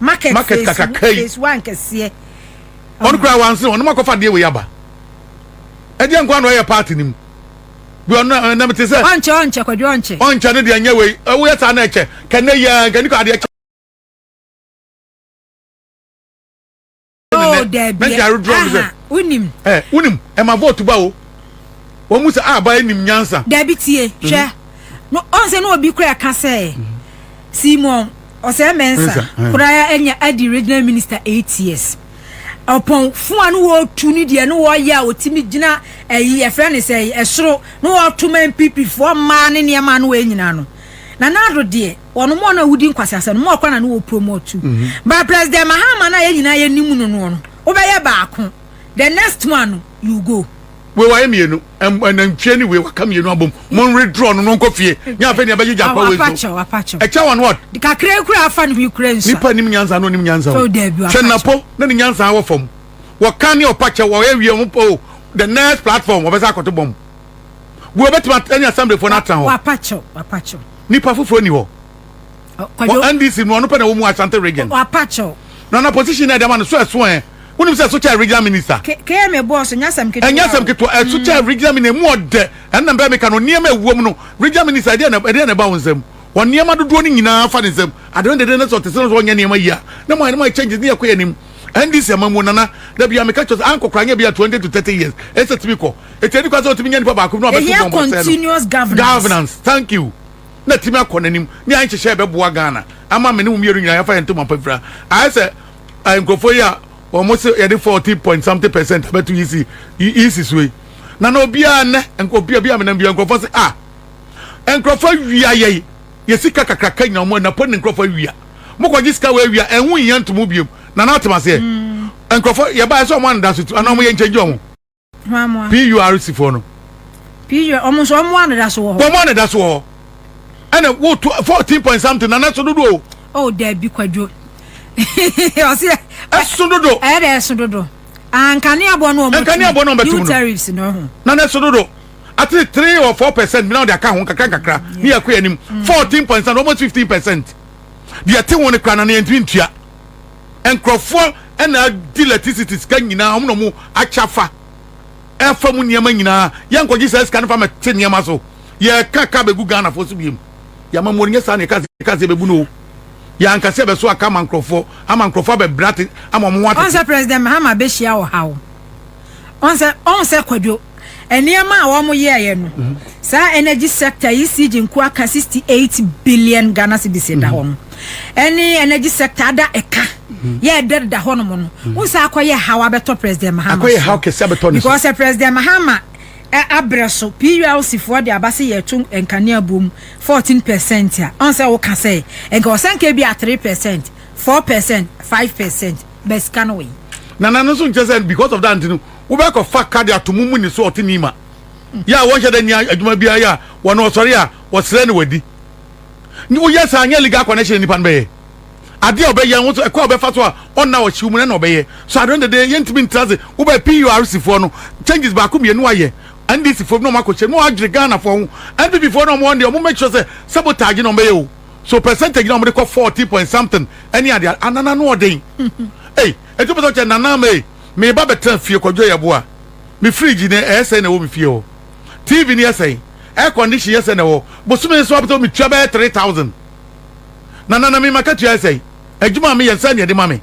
market market kakaka yi phase one kɛseɛ ɔno koraa wanse ɔno mu akɔfa deɛ wei aba ɛdeɛ nkoa na ɔyɛ party no mu bi ɔno ɛnna mete sɛ ɔnkyɛ ɔnkyɛ kwadwo ɔnkyɛ ɔnkyɛ ne deɛ nyɛ wei woyɛ saa na ɛkyɛ kɛnɛ yia nkani kɔ adeɛ kyɛ Oh, dabi. Aha, wonim. Eh, wonim. Ɛma vote ba o. Wɔn mu sɛ a ba anim nyansa. Dabi tie. Mhm. Hwɛ. No, ɔn sɛ na obi kura ka sɛ. Mhm. Simon ɔsɛ mɛnsa eh. koraa ɛnyɛ adi regional minister eight years ɔpɔn fun a no wɔtu ne deɛ no wɔyɛ a wɔtumi gyina ɛyi eh, ɛfrɛ ne sɛ ɛsoro no wɔto ma npp foɔ mmaa ne nneɛma no wɔnyina no na n'ado deɛ wɔn mu ɔno a wodi nkwaseasɛm no mu ɔkwan na no wɔ promote tu mm-hmm. ba president mahama na yɛn nyinaa yɛ nim no no no wobɛyɛ baako the next one no you go. wei wayɛ mmienu nantwie ne wei waka mmienu abom mo nwe draw no no nkɔ fie nyɛ afei nea bɛgye gya pa wei so ɛkyɛ wɔn wɔd. kakra kura afa ne ho kura nsa. nipa nim nyansa na onim nyansa o hwɛ napo na ne nyansa wɔ fam wɔka ne ɔpakyɛ wɔyɛ wie ho po the next platform wɔbɛsa akɔto bɔm. Wo bɛtumi at- ɛne asɛmblefo no atena hɔ wapakyɛw wapakyɛw nipa foforɔ ni hɔ Kwadwo- wɔ ndc mu ɔno pɛ na wɔ mu asante region wapakyɛw na na position na ɛde ama no so ɛso ɛ wonim sɛ ɛso kyɛ regional minister K- km ɛbɔɔ so nyɛ asɛm ketewa ɛnyɛ asɛm o. ketewa ɛso kyɛ regional minister ɛmu ɔdɛ ɛnna mbɛ meka no nneɛma ɛwom no regional minister ɛdeɛ na ɛdeɛ na ɛba wo nsam wɔ nneɛma dodoɔ no nyinaa fa ne nsam adeɛ no dede no sɛ ɔte sɛ no sɛ ɔnyɛ nneɛma yie a na mo ayɛ no mo ayɛ changes ne yɛkɔ yɛ anim NDC amammuo nana da biara meka kyerɛ sɛ ankɔ koraa nyɛ bia 20 to 30 years ɛsɛ tumi kɔ ɛti ɛni kwa sɛ ɔtumi nya nipa baako bi na ɔbɛto bɔmba sɛ continuous governance governance thank you na tumi akɔ n'anim ne ayɛ nhyehyɛ ɛbɛboa Ghana ama me ne wo mmienu nyinaa yɛfa yɛn ntoma pa fira ayɛ sɛ eh, nkurɔfoɔ yi a wɔn se yɛde 40 point something percent abɛto EC EC so yi na na obiara nnɛ nkurɔfoɔ bi a menam bi nkurɔfoɔ se ah nkurɔfoɔ awia yɛi yɛ sika kakraka nya ɔmo ɛna pɔ ne nkorɔfo awia mo kɔ gye sika wɔ awia ɛho nhia nto mo biom na na atem aseɛ nkorɔfo yɛ ba ɛsɛ ɔmo anoda so tu ana ɔmo yɛ nkyɛn gye ɔmo PURC foɔ no PUR ɔmo nso ɔmo anoda so wɔ hɔ ɔmo anoda so wɔ hɔ ɛna wo to fourteen point something na na ɛso dodo o oh dabi kwadwo ɔsi ɛso dodo ɛyɛ dɛ ɛso dodo ankaneaboɔ no ɔmo ɛnkaneaboɔ no ɔmo bɛtum no new tariffs no ho na na ɛso dodo. Atleast three or four percent bi na wɔde aka ho nkakra nkakra ne yɛkɔ yɛn anim. Fourteen point something, almost fifteen percent. Deɛ ɛte ho no koraa na na yɛntumi ntua. Nkurɔfoɔ na adi electricity sika nyinaa, wɔn na wɔn akyɛ afa ɛfa mu nneɛma nyinaa. Yɛnkɔgye saa sika no fa mmɛte nneɛma so. Yɛka ka bɛgu Ghanafoɔ so biom. Yɛama mu nyɛ saa na yɛka ka sɛ yɛbɛbu no o. Yɛanka sɛ yɛbɛso aka ama nkurɔfoɔ ama nkurɔfoɔ abɛbrɛ ate ama wɔn ho atete. Ɔnsɛ President Mahama bɛhyia ɔhaw ɔn sɛ ɔn sɛ kwadwo nneɛma a wɔn yɛɛyɛ no mhm. saa energy sector yi si gye nko aka sixty eight billion ghana cedis da mhm. hɔ no ɛne energy sector ada ɛka mhm. yɛ ɛdɛ da hɔ nom no n sɛ akɔyɛ haw abɛtɔ president mahama akɔyɛ haw kɛse abɛtɔ ne so because eh, president mahama eh, abrɛ so plc foɔ de aba se yɛto nkanea bom fourteen percent a ɔn sɛ woka sɛ nka ɔsɛ nka bi a three percent four percent five percent bɛ sika no wei. nana no nso nkyɛ sɛ because of that nti no wobɛkɔ fa ka de ato mu mu ne so ɔte nima yɛ a wɔnhyɛ dɛ nya adwuma biara yɛ a wɔn ɔsɔre a wɔsrɛ ne wadi woyɛ saa nyɛ legal connection nipa no bɛyɛ adeɛ a ɔbɛyɛ ho so ɛkɔ a ɔbɛfa so a ɔnna ɔhyew mu na na ɔbɛyɛ so adɔn dede yɛntumi ntra ase wobɛ PURC foɔ no changes baako mmienu ayɛ NDC foɔ bi na ɔmo akɔhyɛ mu adwene Ghana foɔ ho NPP foɔ na ɔmo wɔn deɛ ɔmo make sure sɛ sabotage na ɔmo bɛyɛ o So percentage na ɔmo de kɔ fourteen point something ɛne ade ade ana n'ano ɔden ei eti wopɛ sɛ ɔkyɛ nana ama ei me ba bɛtena fie kwadwo yɛ boa me fridge no ɛyɛ sɛn na ɛwɔ me fie hɔ TV no yɛ sɛn air condition yɛ sɛn na ɛwɔ bosome nso wopɛ sɛ me tua bɛyɛ three thousand na nana me ma katua yɛ sɛn adwuma a me yɛ nsa nea ɛde ma me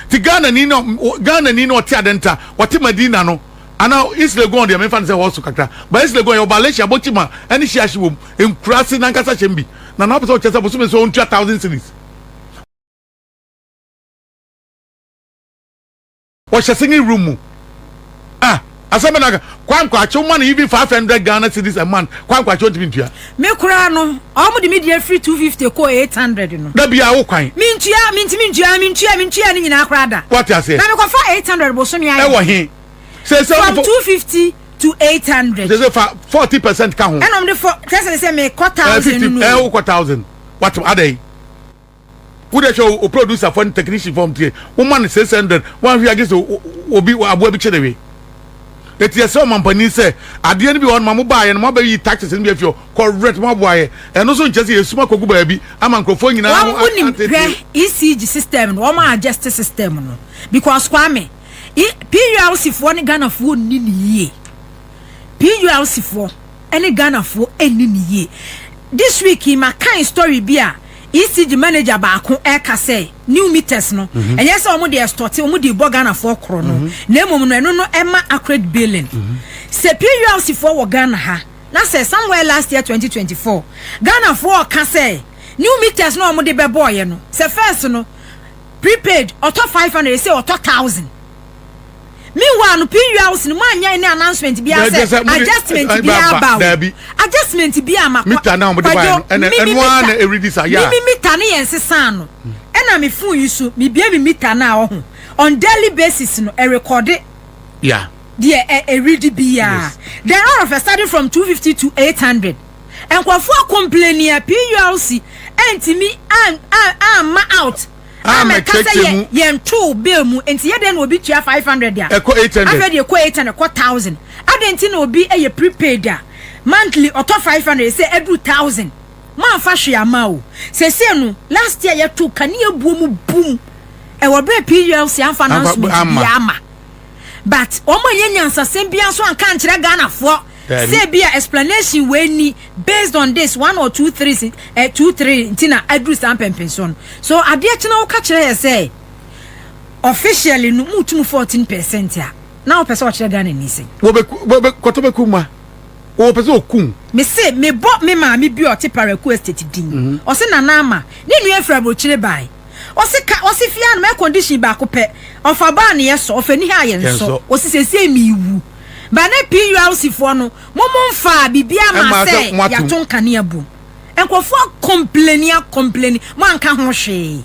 ti Ghana ni na Ghana ni na ɔte adenta ɔte Madina no Ana East Legon deɛ memfa no sɛ hɔ so kakra but East Legon yɛ ɔba Alesha Abotima ɛne Shiashi wɔ mu nkuraase nankasa hyɛm bi na na ɔpɛ sɛ ɔkyɛ sɛ bosome so ɔntua thousand cedis ɔhyɛ singing room mu ah asɛm bɛ na aka Kwan Kwakye woma no even five hundred Ghana cedis a month Kwan Kwakye ɔntumi ntua Me koraa no ɔmo de me deɛ firi two fifty kɔɔ eight hundred no da biara wo kwan mentua mentumi ntua mentue mentue ne nyinaa koraa da wate aseɛ na mekɔfa eight hundred bosome ayɛ ɛwɔ he? sɛ sɛ from two fifty to eight hundred. sɛ sɛ fa forty percent ka ho. ɛnna wɔn de fɔ kyerɛ sɛ sɛ mɛ kɔ thousand nínú. ɛɛ wokɔ thousand wati adai wúdẹ sọ o producer fọ ni technician fọ tiẹ wọn ma ni six hundred wọn ahwi agye sọ obi aboa bi kyerẹ wi eti ẹsẹ ọmọ mpanyin sẹ adeɛ ni bi wọn ma mo ba yẹ no mo abẹ yi taxes ni bi efi ọ kọ rent mo aboa yẹ ẹno nso nkyɛn sɛ yɛ suma kogu baabi ama nkurɔfoɔ nyinaa. wɔn mu nim hwɛ ecg system no wɔn a adjust system no because kwame. PULC foɔ ne Ghana foɔ nni ne yie PULC foɔ ne Ghana foɔ nni ne yie this week yi ma kan story bi a ECG manager baako ɛka sɛ new meters no mhm. ɛnyɛ sɛ wɔn de ɛstɔte wɔn de bɔ Ghana foɔ korɔ no mhm. na mmom no ɛno no ɛma accurate billing mhm. sɛ PULC foɔ wɔ Ghana ha na sɛ somewhere last year 2024 Ghana foɔ ɔka sɛ new meters no wɔn de bɛbɔɔyɛ no sɛ first no. Prepaid ɔtɔ five hundred ɛsɛ ɔtɔ thousand meanwhile no pin house no mu anyɛ ne announcement bi asɛ adjustment bi aba o adjustment bi ama mita na wɔde ba yɛn ɛna ɛno ara na ɛredi sa yɛ a mimi mita ne yɛn sesan no ɛna me phone yi so mebie me mita na ɔho on daily basis no ɛrekɔde yeah deɛ ɛredi biara then all of a sudden from two fifty to eight hundred. Nkorɔfoɔ complaini a PULC antumi amma out ammɛka sɛ yɛ yɛn too bill mu nti yɛ dɛn na obi tua five hundred a ɛkɔ eight hundred afei deɛ ɛkɔ eight hundred ɛkɔ thousand adɛn nti na obi yɛ prepaid a monthly ɔtɔ five hundred sɛ ɛduru thousand moamfa hwee ama o sɛsɛ no last year yɛto kanea buo mu bum ɛwɔ berɛ PULC amfa announcement biara ama but wɔn anyɛ nyansasɛm biara nso anka ankyerɛ Ghanafoɔ Sɛ ebia explanation wei ni based on this one or two three si eh, two three nti na aduru saa mpɛmpɛnsoɔ no so adeɛ kyena woka kyerɛ yɛ sɛ officially no mu tum fourteen percent a na wopɛ sɛ ɔkyerɛ Ghana ni sɛ. kɔtɔ bɛ kum ma wɔpɛ sɛ ɔkum. mese mebɔ me maame bi ɔte paraku estate din mhm. ɔse nana ama ne nua afiri aburokyire bae ɔse ka ɔse fie anoma air condition baako pɛ ɔfa baa ne yɛ sɔ ɔfa ni ha yɛ nsɔ ɔse sɛsie mewu Ba ne PULC foɔ no mo mo nfaa biribiaa mmaa sɛ yɛato nkanea bom. Nkurɔfoɔ akɔmpleni akɔmpleni mo anka ho hwee.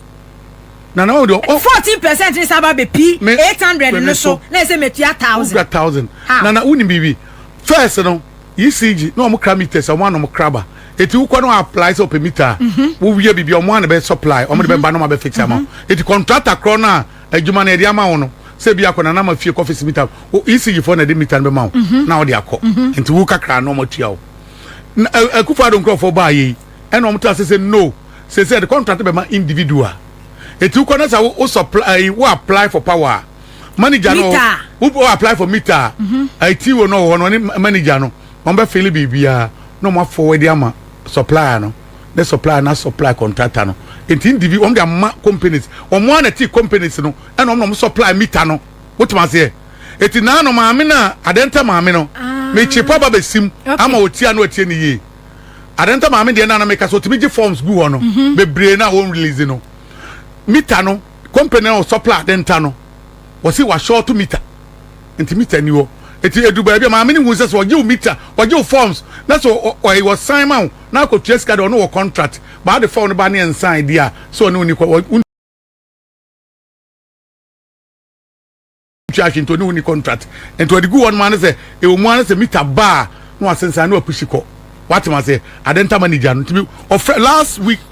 Nana wo deɛ. Fourteen percent ne saba bɛ pi eight hundred no so na ɛsɛ mɛ tua thousand. Wura thousand. Nana wo ni biribi. First no ECG na wɔn kra meters wɔn ano wɔn kraba. Eti wokɔ no apply sɛ ɔpɛ meter. Mhm. Wo wia biribi wɔn ano bɛ supply wɔn de bɛ ba na wɔn abɛ fix ama. Mhm. Eti contractor korɔ no a. Adwuma no yɛde ama wo no sɛ bi akɔ nana ma fie kɔ fisi mita o ECG fo na de mita no bɛma wo mhm. na wɔde akɔ mhm. nti wo kakra na wɔn atua wo akufo ado nkurɔfoɔ baa yɛ yi ɛna wɔn ta sɛ no sɛ sɛ de contract bɛma individual eti wokɔ na sɛ wo supply wo apply for power manager no wo apply for meter mhm. eti wo no wɔ hɔ no ne manager no wɔn bɛ fili biribiara na wɔn afɔ wɔde ama supplier no. ne supplier na supply contractor no nti ndi bi wɔn de ama companies wɔn ara na ti companies no ɛna wɔn na wɔn supply meter no wotuma aseɛ eti naa no maame na adɛnta maame no ah. mekyepa ba besim ama otia no atie ne yie adɛnta maame deɛ naa no meka so otumi gye forms gu hɔ no mhm. bebree na wɔn release no meter no company na wɔ supply adɛnta no wɔsi wa short meter. Nti meter ni hɔ. Nti edu baabi a maame no hu sɛ sɛ ɔgye wo meter, ɔgye wo forms na sɛ ɔɛi ɔsan ma wo na akɔtua sika de ɔne wɔ contract. But ade form no ba ne ɛnsan deɛ a sɛ ɔne wo ni kɔ wɔ ntwa hwe nti ɔne wo ni contract. Nti ɔde gu hɔ nom a ne sɛ ɛwɔ mu a ne sɛ meter ba a na wasensan na wapushi kɔ. Woate maseɛ? Adenta manager no nti me ɔfrɛ last week.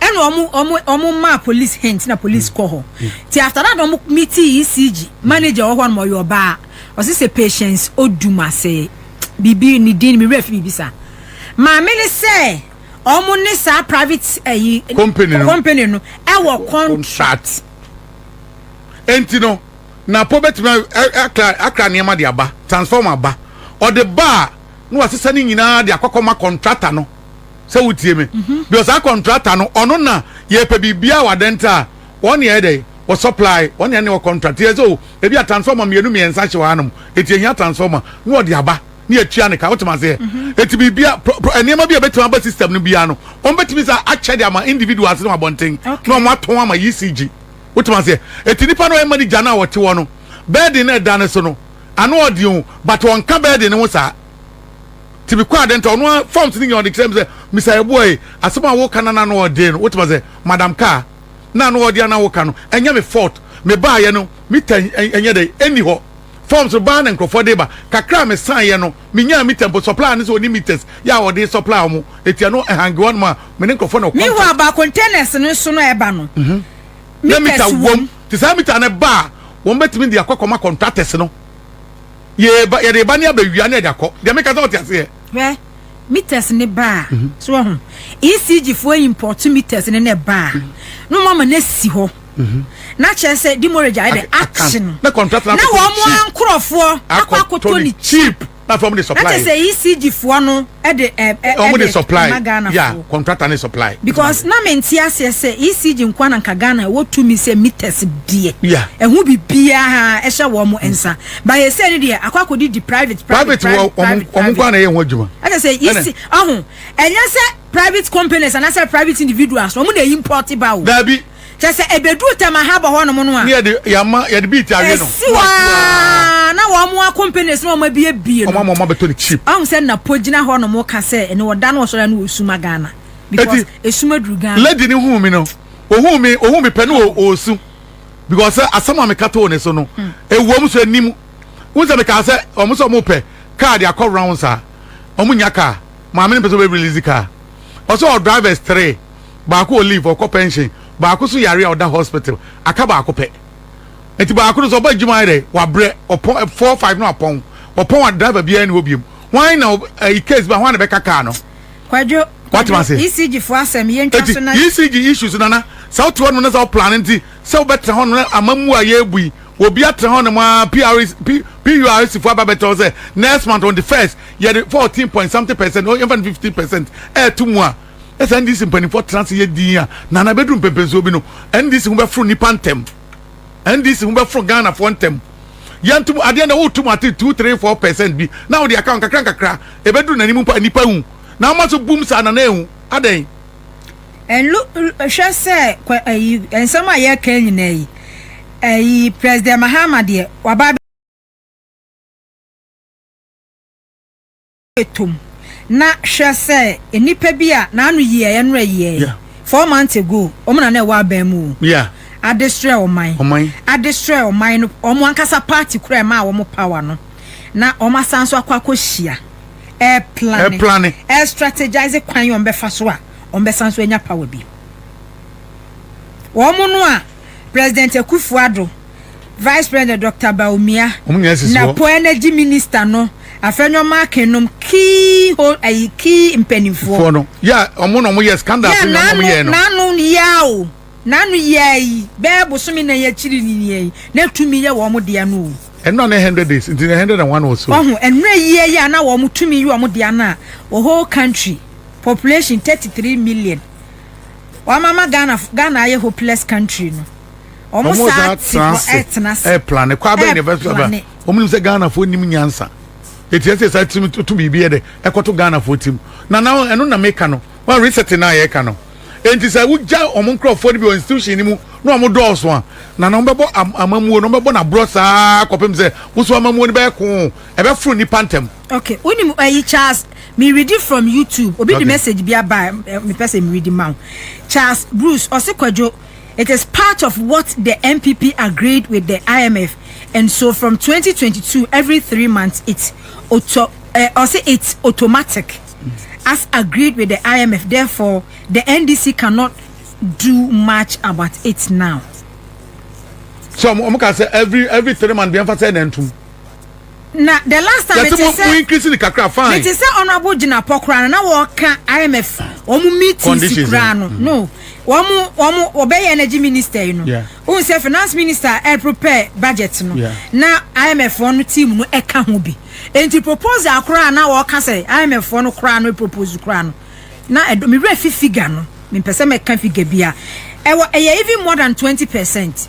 Ɛna ɔmo ɔmo ɔmo maa police hint na police kɔ hɔ. Ti after that ɔmo meeting ECG manager wɔ hɔ nom ɔyɛ ɔbaa. Ɔsi sɛ patience Odumase biribi ne din me werɛ fi biribi saa. Maame ne sɛ ɔmo ne saa private ɛyi company no ɛwɔ contract. Enti no Napo bɛtumi akra akra nneɛma de aba transformer aba ɔde ba a. na wasesa ne nyinaa de akɔkɔ ma kɔntrata no sɛ wotie me mhm. because saa kɔntrata no ɔno na yɛpɛ biribiara wɔ adɛnta a wɔn yɛ dɛ wɔ supply wɔn yɛ ne wɔ kɔntrata yɛ sɛ o ebi a transformer mmienu mmiɛnsa hyɛ wɔn anam eti ehia transformer na ɔde aba ne yɛtua ne ka wotumi aseɛ mhm. eti biribia nneɛma bi a ebetumi aba system no biara no wɔn betumi sɛ akyɛ de ama individuals no abɔnten na wɔn atɔn ama ecg wotumi aseɛ eti nipa no ɛma ne gya no a wɔte hɔ no bɛɛden na ɛda ne so no Ano ɔden o but ɔnka bɛɛden no ho saa ti me kɔ aden nta ɔno ara forms ne nyina ɔde kyerɛ me sɛ Mister Yeboah e asɛm a woka na n'ano ɔden no wotem asɛ madam kaa na ano ɔden ana woka no ɛnyɛ me fault me baayɛ no meter ɛnyɛ dɛn ɛnni hɔ forms no baa na nkurɔfoɔ de ba kakra a me saeɛ no me nyaa meter mpo supplier no sɛ ɔni meters yɛ a ɔde supplier wɔn eti ɛno ɛhange hɔnom a me ne nkurɔfoɔ na ɔcontact. Meanwhile ba containers no nso no a ɛba no. na mita wom. Te saa mita no ba a, wɔbɛtumi de akɔ akɔma kɔntratɛs no. Yɛba, yɛde ba ne abɛwia ne yɛde akɔ. Deɛ meka sɛ ɔte aseɛ. Hwɛ, meters no ba a, mhm. so ɔho. ECG foɔ import meters no na ɛba a, na wɔn ama no asi hɔ. Mhm. Na kyerɛ sɛ demorage ayɛ dɛ action. Na wɔn ankorɔfoɔ akɔ akɔtɔ ne cheap. na fam de supply. na kyɛ sɛ ECG foɔ no de ɛ ɛ wɔn de supply ma Ghana yeah foɔ contractor ne supply. because na me nte aseɛ sɛ ECG nkoa na nka Ghana ɛwɔ tumi sɛ meters deɛ yeah ɛho bibiara ɛhyɛ wɔn mo nsa ba yɛ sɛ ne deɛ akɔ akɔ di di private private private wɔ wɔn wɔn nkoa na ɛyɛ wɔn adwuma ɛna sɛ ECG ɔho ɛnyɛ sɛ private companies anasɛ private individuals wɔn na ɛyi import ba o. daabi. Kyɛ sɛ ɛbɛduru Tɛmahaba hɔnom no a. Ne yɛde yɛama, yɛde beat awe no. Ɛsi hɔ ara na wɔn akompanis na wɔn abiebie no. Wɔn ama wɔn abɛtɔ no cheap. Ahu sɛ na po gyina hɔnom ka sɛ ɛnɛ ɔda no ɔsɔre a na ɔresuma Ghana. Because ɛsuma duru Ghana. Lady no huu me no, ɔhuu me, ɔhuu me pɛ no ɔresu. Because sɛ asɛm a meka too ne so no, ɛwom so ɛnim. Wohu sɛ mekaa sɛ wɔn sɛ wɔn pɛ kaa de akɔ rounds a, wɔn nnya kaa. Maame no mpɛ sɛ ɔbɛ release kaa. Ɔsɛ ɔwɔ drivers three. baako wɔ leave ɔkɔ pension baako so yare a ɔda hospital aka baako pɛ nti baako no so ɔba adwuma ayɛ dɛ wabrɛ ɔpɔn four five no apɔn ɔpɔn a driver biara ne hɔ biom wɔn na ɛyi case bi a wɔn na bɛka kaa no. kwadwo kwadwo ecg fo asɛm yɛn twa so na. ecg issues nana sɛ wote hɔ nom na sɛ woplan nti sɛ wobɛtena hɔ nom na amammu a yɛrebu yi obi atena hɔ nom a prs purs fo aba bɛtɔ sɛ next month on the first yɛde fourteen point something percent yɛmfa no fifteen percent ɛɛto mu a na sɛ ndc mpanimfoɔ tena ase yɛ din a nana bɛduru mpɛmpɛnsuo bi no ndc ho bɛforo nnipa ntɛm ndc ho bɛforo ghanafoɔ ntɛm yɛntom adeɛ na wotom ate two three four percent bi na wode aka nkakra nkakra ɛbɛduru n'anim mpo a nnipa hu na ama so bum saa nana ehu adɛn ɛnlo hwɛ sɛ kɔ ayi nsɛm a yɛka nyinaa yi ayi president mahama deɛ waba toom. Na hwɛ sɛ nnipa bi a n'ano yiaɛ no ɛyiaɛ. Four months ago, wɔn na na ɛwɔ aban mu o. Adeserɛ ɔman. Adeserɛ ɔman no, wɔn ankasa party kora ɛmaa wɔn power no. Na wɔn asan nso akɔ akɔhyia, ɛreplane, ɛrestrategise kwan a wɔbɛfa so a wɔbɛsan nso anya power bi. Wɔn no a. President Akuffo Addo, Vice President Doctor Bawumia, na Po Energy Minister no Afenwoma Akin nom key hold ayi key mpanimfoɔ. no yɛ ɔmo na ɔmo yɛ scandal fi na ɔmo yɛ no. N'ano yɛ o n'ano yɛ yi bɛɛ bosome na yɛ akyiri ni ni yi na tumi yɛ wɔn deɛ no o. Ɛno na ne hundred days nti na hundred and one or so. Ɔho ɛno yie yɛ na wɔn tumi yɛ wɔn deɛ no a whole country population thirty three million. Wɔn ama Ghana Ghana ayɛ hopeless country no. Wɔn saa te hɔ ɛtena ase. Ɛplane kɔ abɛn na ɛbɛ so ɛbɛ. Wɔn nim sɛ Ghana fo nim nyansa. Eti ɛsɛ saa tirim to biribi yɛ dɛ ɛkɔto Ghana fo tirim. Na na ɛno na meka no. Wɔn reset na yɛ ka no. Enti sɛ wogya wɔn nkorɔfoɔ no bi wɔ institution no mu na wɔn dɔɔso a na na wɔbɛbɔ amamuo na wɔbɛbɔ n'aborɔ saa kɔpem sɛ woso amamuo no bɛyɛ koo ɛbɛforo nipa ntɛm. okay wonim ɛyi eh, charles me ready from youtube obi okay. de message bi aba eh, me person me ready ma charles bruce ɔse kwadwo it is part of what the npp agreed with the imf and so from 2022 every three months it's auto uh, or say it's automatic as agreed with the imf therefore the ndc cannot do much about it now so I'm ka say every every three months biɛmfa sɛ na ntom Na the last time mete sɛ mo increase ne kakra fine. Mete sɛ honorable gyinapɔ koraa no na wɔka IMF wɔn meetings koraa no mm. no wɔn wɔn wɔbɛyɛ energy minister yi no. Ohun sɛ finance minister ɛ prepare budget no na IMF wɔn team no ɛka ho bi. Nti proposal koraa na wɔka sɛ IMF wɔn koraa no propose koraa no na ɛdɔ mi wura fi figure no mi mpɛ sɛ mɛka figure bi a ɛwɔ ɛyɛ even more than twenty percent.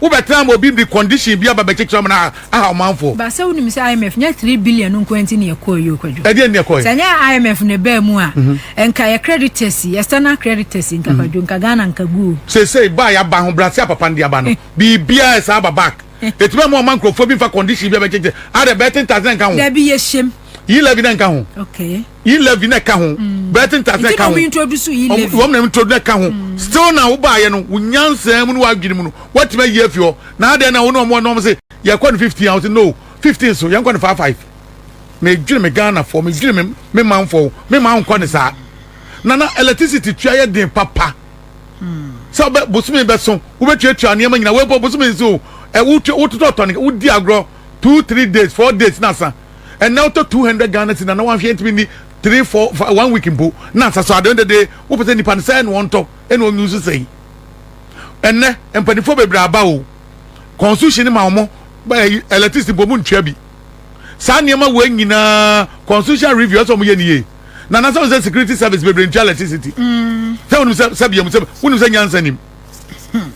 Wo bɛ tena ama obi de condition bi aba bɛ kyekyere ɔmo na aha ɔmanfoɔ. Ba sɛ wonim sɛ IMF nyɛ three billion no nkoa nti na yɛkɔɔ yi o Kwadwo. Ɛdeɛn na yɛkɔɔ yi? Sɛ nyɛ IMF na ɛbaa mu a nka yɛ creditors yi, external creditors yi nka Kwadwo nka Ghana nka gu o. Seesei ba a yaba ahobrɛase a papa no de aba no biribiaa yɛ saa aba back. Ɛtumi ama ɔma nkorɔfoɔ bi mfa condition bi a bɛ kyekyere. Adɛ bɛ ten tax na ɛnka ho? Dabi yɛ hyɛm. Yi levy na ɛnka ho. Okay. yi levy na ɛka ho mm. brighton tas na ɛka ho wɔn na introduce na ɛka ho mm. still na wo baayɛ no wo nyansa mu no wadwene mu no watumi ayi afi hɔ na adeɛ na wɔn na wɔn na wɔn sɛ yɛkɔ no fifteen ahosuo no fifteen so yɛn kɔ no five five na edwene me ghana fɔ me dwene me me man fɔ me man nkɔ ne saa nana electricity tua yɛ den papa mm. sɛ ɔbɛ bosomi bɛ so wobɛtuatua nneɛma nyina wɔbɔ bosomi nso ɛwototɔ tɔne wodi agorɔ two three days four days na san ɛnna wotɔ two hundred ghana cedi na na wanhwɛ ntumi ni three four five one week mpo na nsa so adeɛ dede wopɛ sɛ nipa no sɛ ɛna ɔntɔ ɛna ɔnyu nso sɛn ɛnɛ mpanimfoɔ bebree aba o constitution ma wɔn ɛyi electricity mpo wɔn ntua bi saa nneɛma wɔ nyinaa constitution review ɛsɛ wɔn yɛ ni yie na na sɛ wɔn sɛ security service bebree ntua electricity mm. sɛ wɔn sɛ sɛ biam sɛ wɔn sɛ nyansa nim hmm.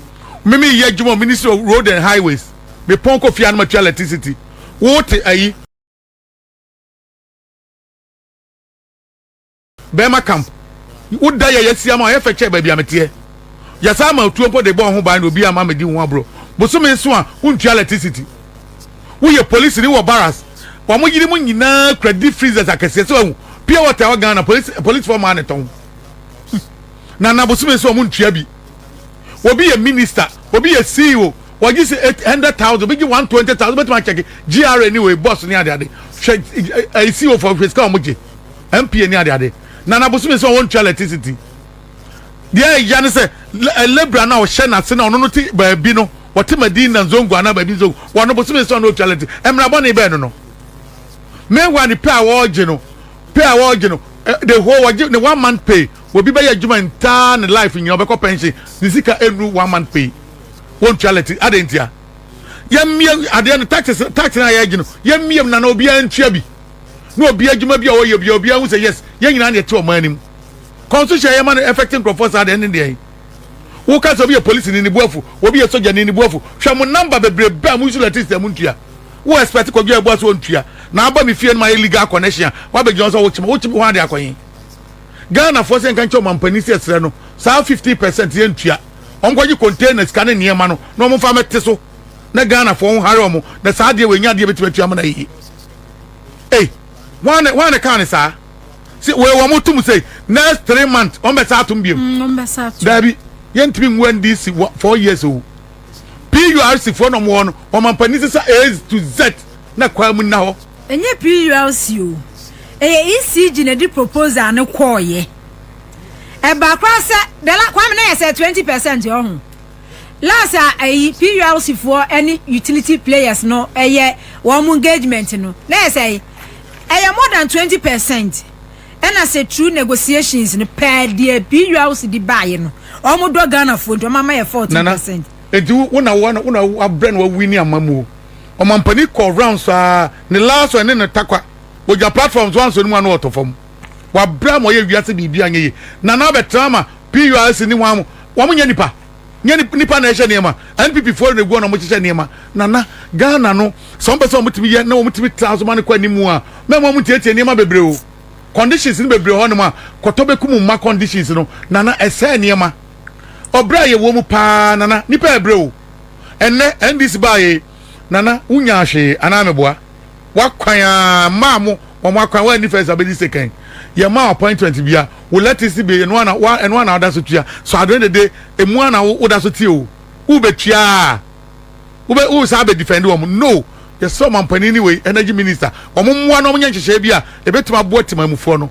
mímí yɛ adwuma ministry of road and highways mepɔn kɔ fia no ma tua electricity. Wo te ayi. Bɛrima camp. Wo da yɛ yɛsia ma ɔyɛ fɛ kyɛ baabi a meteɛ. Yɛsaa ma atuo mpo de bɔɔ ho ban na obi ama medi ho aborɔ. Bosome nso a wontua lɛtisiti. Wo yɛ polisi ni wɔ baras. Wɔn yere mu nyinaa kura deep freezers akɛseɛ sɛ wahu. Pure water ɛwɔ Ghana polisi polisifoɔ maa ne tɔn. Nana Bosome nso wɔn ntua bi. obi yɛ minister, obi yɛ CEO, wɔgye sɛ eight hundred thousand, obi gye one twenty thousand, wobɛtumi akyɛke GRA ne wei boss ne adeade, hwɛ ɛyi CEO fo hwɛ sika wɔn gye, MPA ne adeade, Nana Bosome sɛ wɔntua electricity, deɛ ɛya ne sɛ labourer no a ɔhyɛ n'ase na ɔno no te baabi no, wɔte Madina Nzongo anaa baabi Nzongo, wɔno Bosome sɛ ɔno ɔtua electricity, mmara bɔne bɛn no no, meanwhile ne pay a wɔgye no, pay a wɔgye no, the whole wɔgye ne one month pay. Obi bɛyɛ adwuma ntaa ne life nyina ɔbɛkɔ pension ne sika ɛnnu one month pay wɔntua lɛti adɛn ntia yɛmmie adeɛ no taxes tax no a yɛgye no yɛmmie mu nana obiara ntua bi na obi adwuma bi a ɔyɛ bi a obiara hu sɛ yes yɛn nyinaa ne ɛte ɔman no mu constitution a yɛma no effect nkurɔfoɔ saa deɛ ne deɛ woka sɛ obi yɛ polisi ne ne buafu obi yɛ sogya ne ne buafu hwɛ mo namba bebrebe a mo nsu lɛti sɛ mo ntua wo expect kɔdwa ɛboa so ɔntua na aba me fie no ma yɛ legal connection a wabɛgyina wo sɛ wokyema wokyema ho ade akɔyen Ghanafoɔ sɛ yɛnka nkyɛ ɔmampanin sɛ yɛsrɛ no saa fifty percent yɛntua. Wɔnkɔgye container sika ne nneɛma no na wɔmfa mmɛte so na Ghanafoɔ nhare wɔn na saa adeɛ wei nyɛ adeɛ yɛbɛtumi atua ama no ayɛ yie. Ei, hwan na hwan na ɛkaa no saa? Sɛ wei wɔn tom sɛ next three months wɔn bɛsa atom biom. Mm, wɔn bɛsa atom. Daabi, yɛntumi ngu NDC wɔ four years o. PURC foɔ na wɔn wɔ no, wɔn mampanin sisa A to Z na kwan mu nna hɔ. Ɛnyɛ PULC o, ɛyɛ ECG na ɛde proposal no kɔɔyɛ. Ɛbaa koraa sɛ, the la, Kwame na yɛ sɛ twenty percent ɔho. Last a ɛyi PULC foɔ ɛne utility players no ɛyɛ wɔn mo engagement no, na yɛ sɛ ɛyɛ more than twenty percent. Ɛna sɛ through negotiations no pɛɛ deɛ PULC de baayɛ no, wɔn dɔ Ghana foɔ nti wɔn ama yɛ fourteen percent. Nana, nti wo na wo na wo abrɛ na wawini amamuo. Ɔmampanin kɔɔ rounds saa ne last one ne ne takwa ogya platforms wanso ne mu ano ɔtɔ fam wabra ma ɔyɛ wiase biribi anyɛ yie nana abɛtena ama PURC ne wɔn wɔn nyɛ nipa nyɛ nipa na ɛhyɛ nneɛma NPP foɔ na egu na wɔn hyehyɛ nneɛma nana Ghana no sɛ wɔn pɛ sɛ wɔn tumi yɛ na wɔn tumi tra so ma ne kɔ anim mu a mɛmo wɔn tietie nneɛma bebree o conditions no bebree hɔ nom a kɔtɔ bɛkum mma conditions no nana ɛsɛ nneɛma. Ɔbrɛ a yɛwɔ mu paa Nana, nnipa ɛbrɛ o Ɛnnɛ NDC baeɛ Nana, wo nyaa hwee anaa meboa W'akwan aa mmaa mo wɔn akwan Woanni first abɛdi second Yɛ maa appointment bia Wo lettuce bie ɛno ara na ɛno ara na woda so tua So adwene dede ɛmu ara na woda so te o Wo bɛtua aa Wo bɛ wo saa bɛ defend wɔn No Yɛsrɛ ɔmampanin ne wei energy minister wɔn mmoa na wɔn nyɛ nhyehyɛeɛ bi a ɛbɛtumi aboa temamufoɔ no.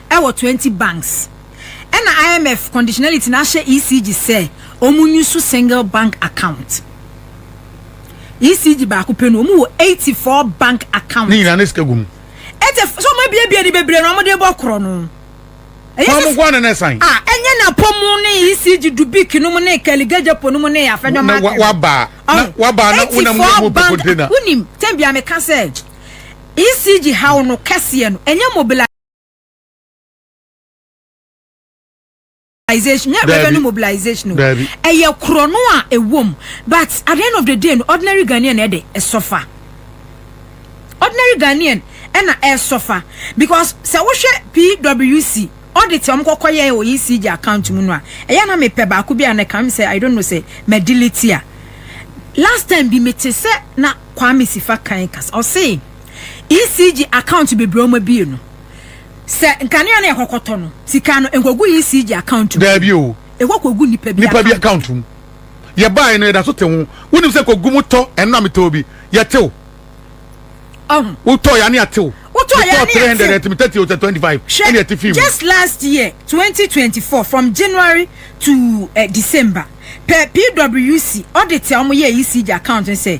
wɔ twenty banks ɛna IMF conditionality no ahyɛ ECG sɛ wɔn nyi so single bank account ECG baako pɛ no wɔn wɔ eighty four bank account. Ne nyinaa ne sika gu mu. Ɛtɛ so wɔn abiebie ne bebree na wɔn de bɔ korɔ no. Wɔn nko ara na na ɛsan. A ɛnyɛ na pɔ mu ne ECG dubik no mu ne kɛligejepo no mu ne afɛnyɔma. Na waba na waba na wonam mu mu pɛ container. Wunim tɛn bia meka sɛ ECG haw no kɛseɛ no ɛnyɛ mobilize. mobilization nyɛ revenue mobilization o ɛyɛ korɔ no a ɛwom but at the end of the day no ordinary ghanaian na ɛde ɛsɔfa ordinary ghanaian ɛna ɛsɔfa because sɛ wohwɛ pwc audit a wɔkɔkɔ yɛ wɔ ecg account mu no a ɛyɛ na mepɛ baako bi a na kam sɛ i don't know sɛ ma delete a last time bi mete sɛ na kwame sifa kan kasa ɔse ECG account bebree a wɔabue no, sɛ nkanea no a ɛkɔkɔtɔ no, sika no nkɔgu ECG account mu. Daabi o. Ɛkɔ kɔgu nnipa bi account mu. Nnipa bi account mu. Yɛbaeɛ no, yɛda so te ho. Wonim sɛ kɔgu mu tɔ, ɛno na metɔɔ bi. Yɛte o. Ɔho. Wotɔeɛ a ne yɛte o. Wotɔeɛ a ne yɛte o. Metɔɔ 300 ɛte me 30 o sɛ 25. Hwɛ, ɛne yɛte fii mu. Just last year, 2024, from January to uh, December, pɛ PWC audit a wɔyɛɛ ECG account no sɛ,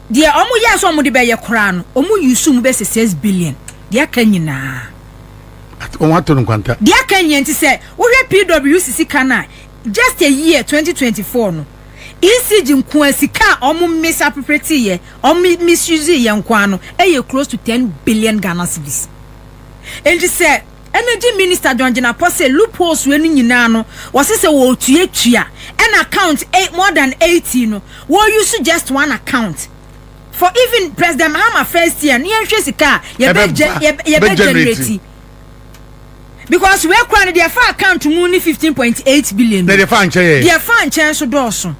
Deɛ ɔmo yɛɛ sɛ ɔmo de bɛyɛ koraa no, ɔmo use mu bɛ sɛ six billion. Deɛ aka nyinaa. At ɔmo ato no nkwanta. Deɛ aka nyinaa nti sɛ wohwɛ PWC sika no a, just a year, twenty twenty four no, ECG nko ara sika a ɔmo mis appropriate yɛ, ɔmo misuse yɛ nko ara no, ɛyɛ close to ten billion Ghana cedis. Nti sɛ. Energy Minister John Jinapor say loopholes wei no nyinaa no wɔse sɛ wɔretua tua ɛna account eight more than eighty no wɔuse just one account for even President Mahama first year no yɛnhwɛ sika a yɛbɛ yɛbɛ generate because wei kora no deɛ ɛfa account mu ne fifteen point eight billion deɛ ɛfa nkyɛn nso dɔɔso.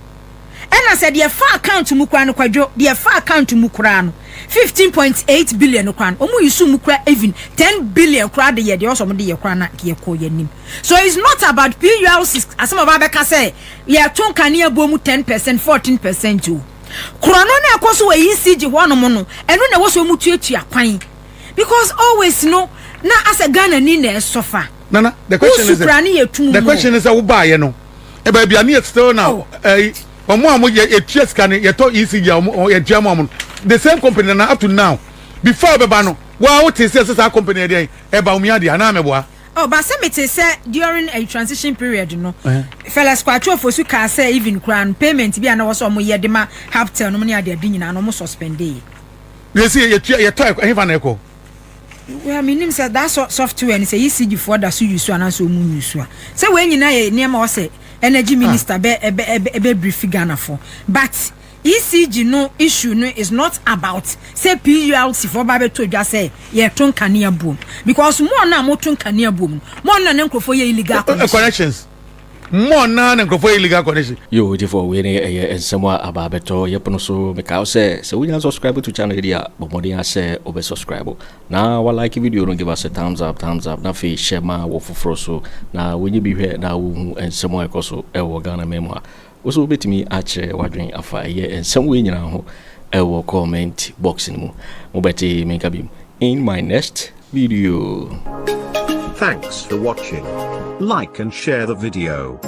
Ɛna sɛ deɛ ɛfa account mu koraa no kwadwo deɛ ɛfa account mu koraa no fifteen point eight billion no koraa no ɔmo use mu koraa even ten billion koraa de yɛ deɛ ɔsɔ ɔmo de yɛ koraa na nka yɛ kɔɔ yɛ anim so it's not about PURC asɛm a ɔbaa bɛka sɛ yɛ to nkanea buo mu ten percent fourteen percent o korɔ no na ɛkɔ so wɔ ECG hɔ nom no ɛno na ɛwɔ so ɔmo tuatua kwan because always no na asɛ Ghana ni na ɛsɔfa. Nana, the question is that, the question is that wobaayɛ no eh, baabi a ne yɛ still now eh, wɔn a wɔn yɛ yɛtua sika no yɛtɔ ecg a wɔn yɛtua mu wɔn the same company na up to now before ɔbɛba no wɔn a wɔte sɛ sɛ saa company yɛ deɛ ɛba wɔn yɛ adeɛ anaa mɛboa. ɔba sɛ mete sɛ during a transition period no eh. fellas kwatwofo so kaa sɛ even koraa no payment bi a na wɔ sɛ wɔn yɛ de ma haptel no mu ne adeade nyinaa no wɔn suspendee. yɛsi yɛtua yɛtɔ ɛhefa na ɛkɔ. well menim sɛ that software no sɛ ECG foɔ da so use anaasɛ ɔmu use a sɛ wei nyinaa yɛ nneɛma wɔ sɛ energy ah. minister bɛ ɛbɛ ɛbɛ ɛbɛ brief Ghana foɔ but ECG no issue no is not about sɛ PULC foɔ ba bɛtɔ dwa sɛ yɛto nkanea buom because mo ɔno a moto nkanea buom no mo ɔno na ne nkurɔfoɔ yɛ illegal eh, eh, connections. More naa ne nkurɔfoɔ yɛ illegal connection. Yoo gyefo wei ne ɛyɛ nsɛm a aba abɛtɔ yɛ pono so mekae wo sɛ sɛ wonya subscribe to channel yi deɛ a bɔ mmɔden ara sɛ wobɛ subscribe na wa like video no give us a thumbs up thumbs up na afei hyɛ ma wɔ foforɔ so na wɔnyɛ bi hwɛ na wɔhu nsɛm a ɛkɔ so ɛwɔ Ghana man mu ha Wo nso wobɛtumi akyerɛ w'adwene afa ɛyɛ nsɛm wei nyinaa ho wɔ comment box no mu. Mobɛte me nka biom in my next video. Thanks for watching. Like and share the video.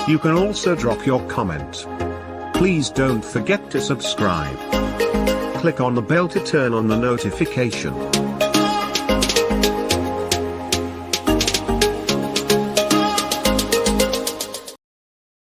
You can also drop your comment. Please don't forget to subscribe. Click on the bell to turn on the notification.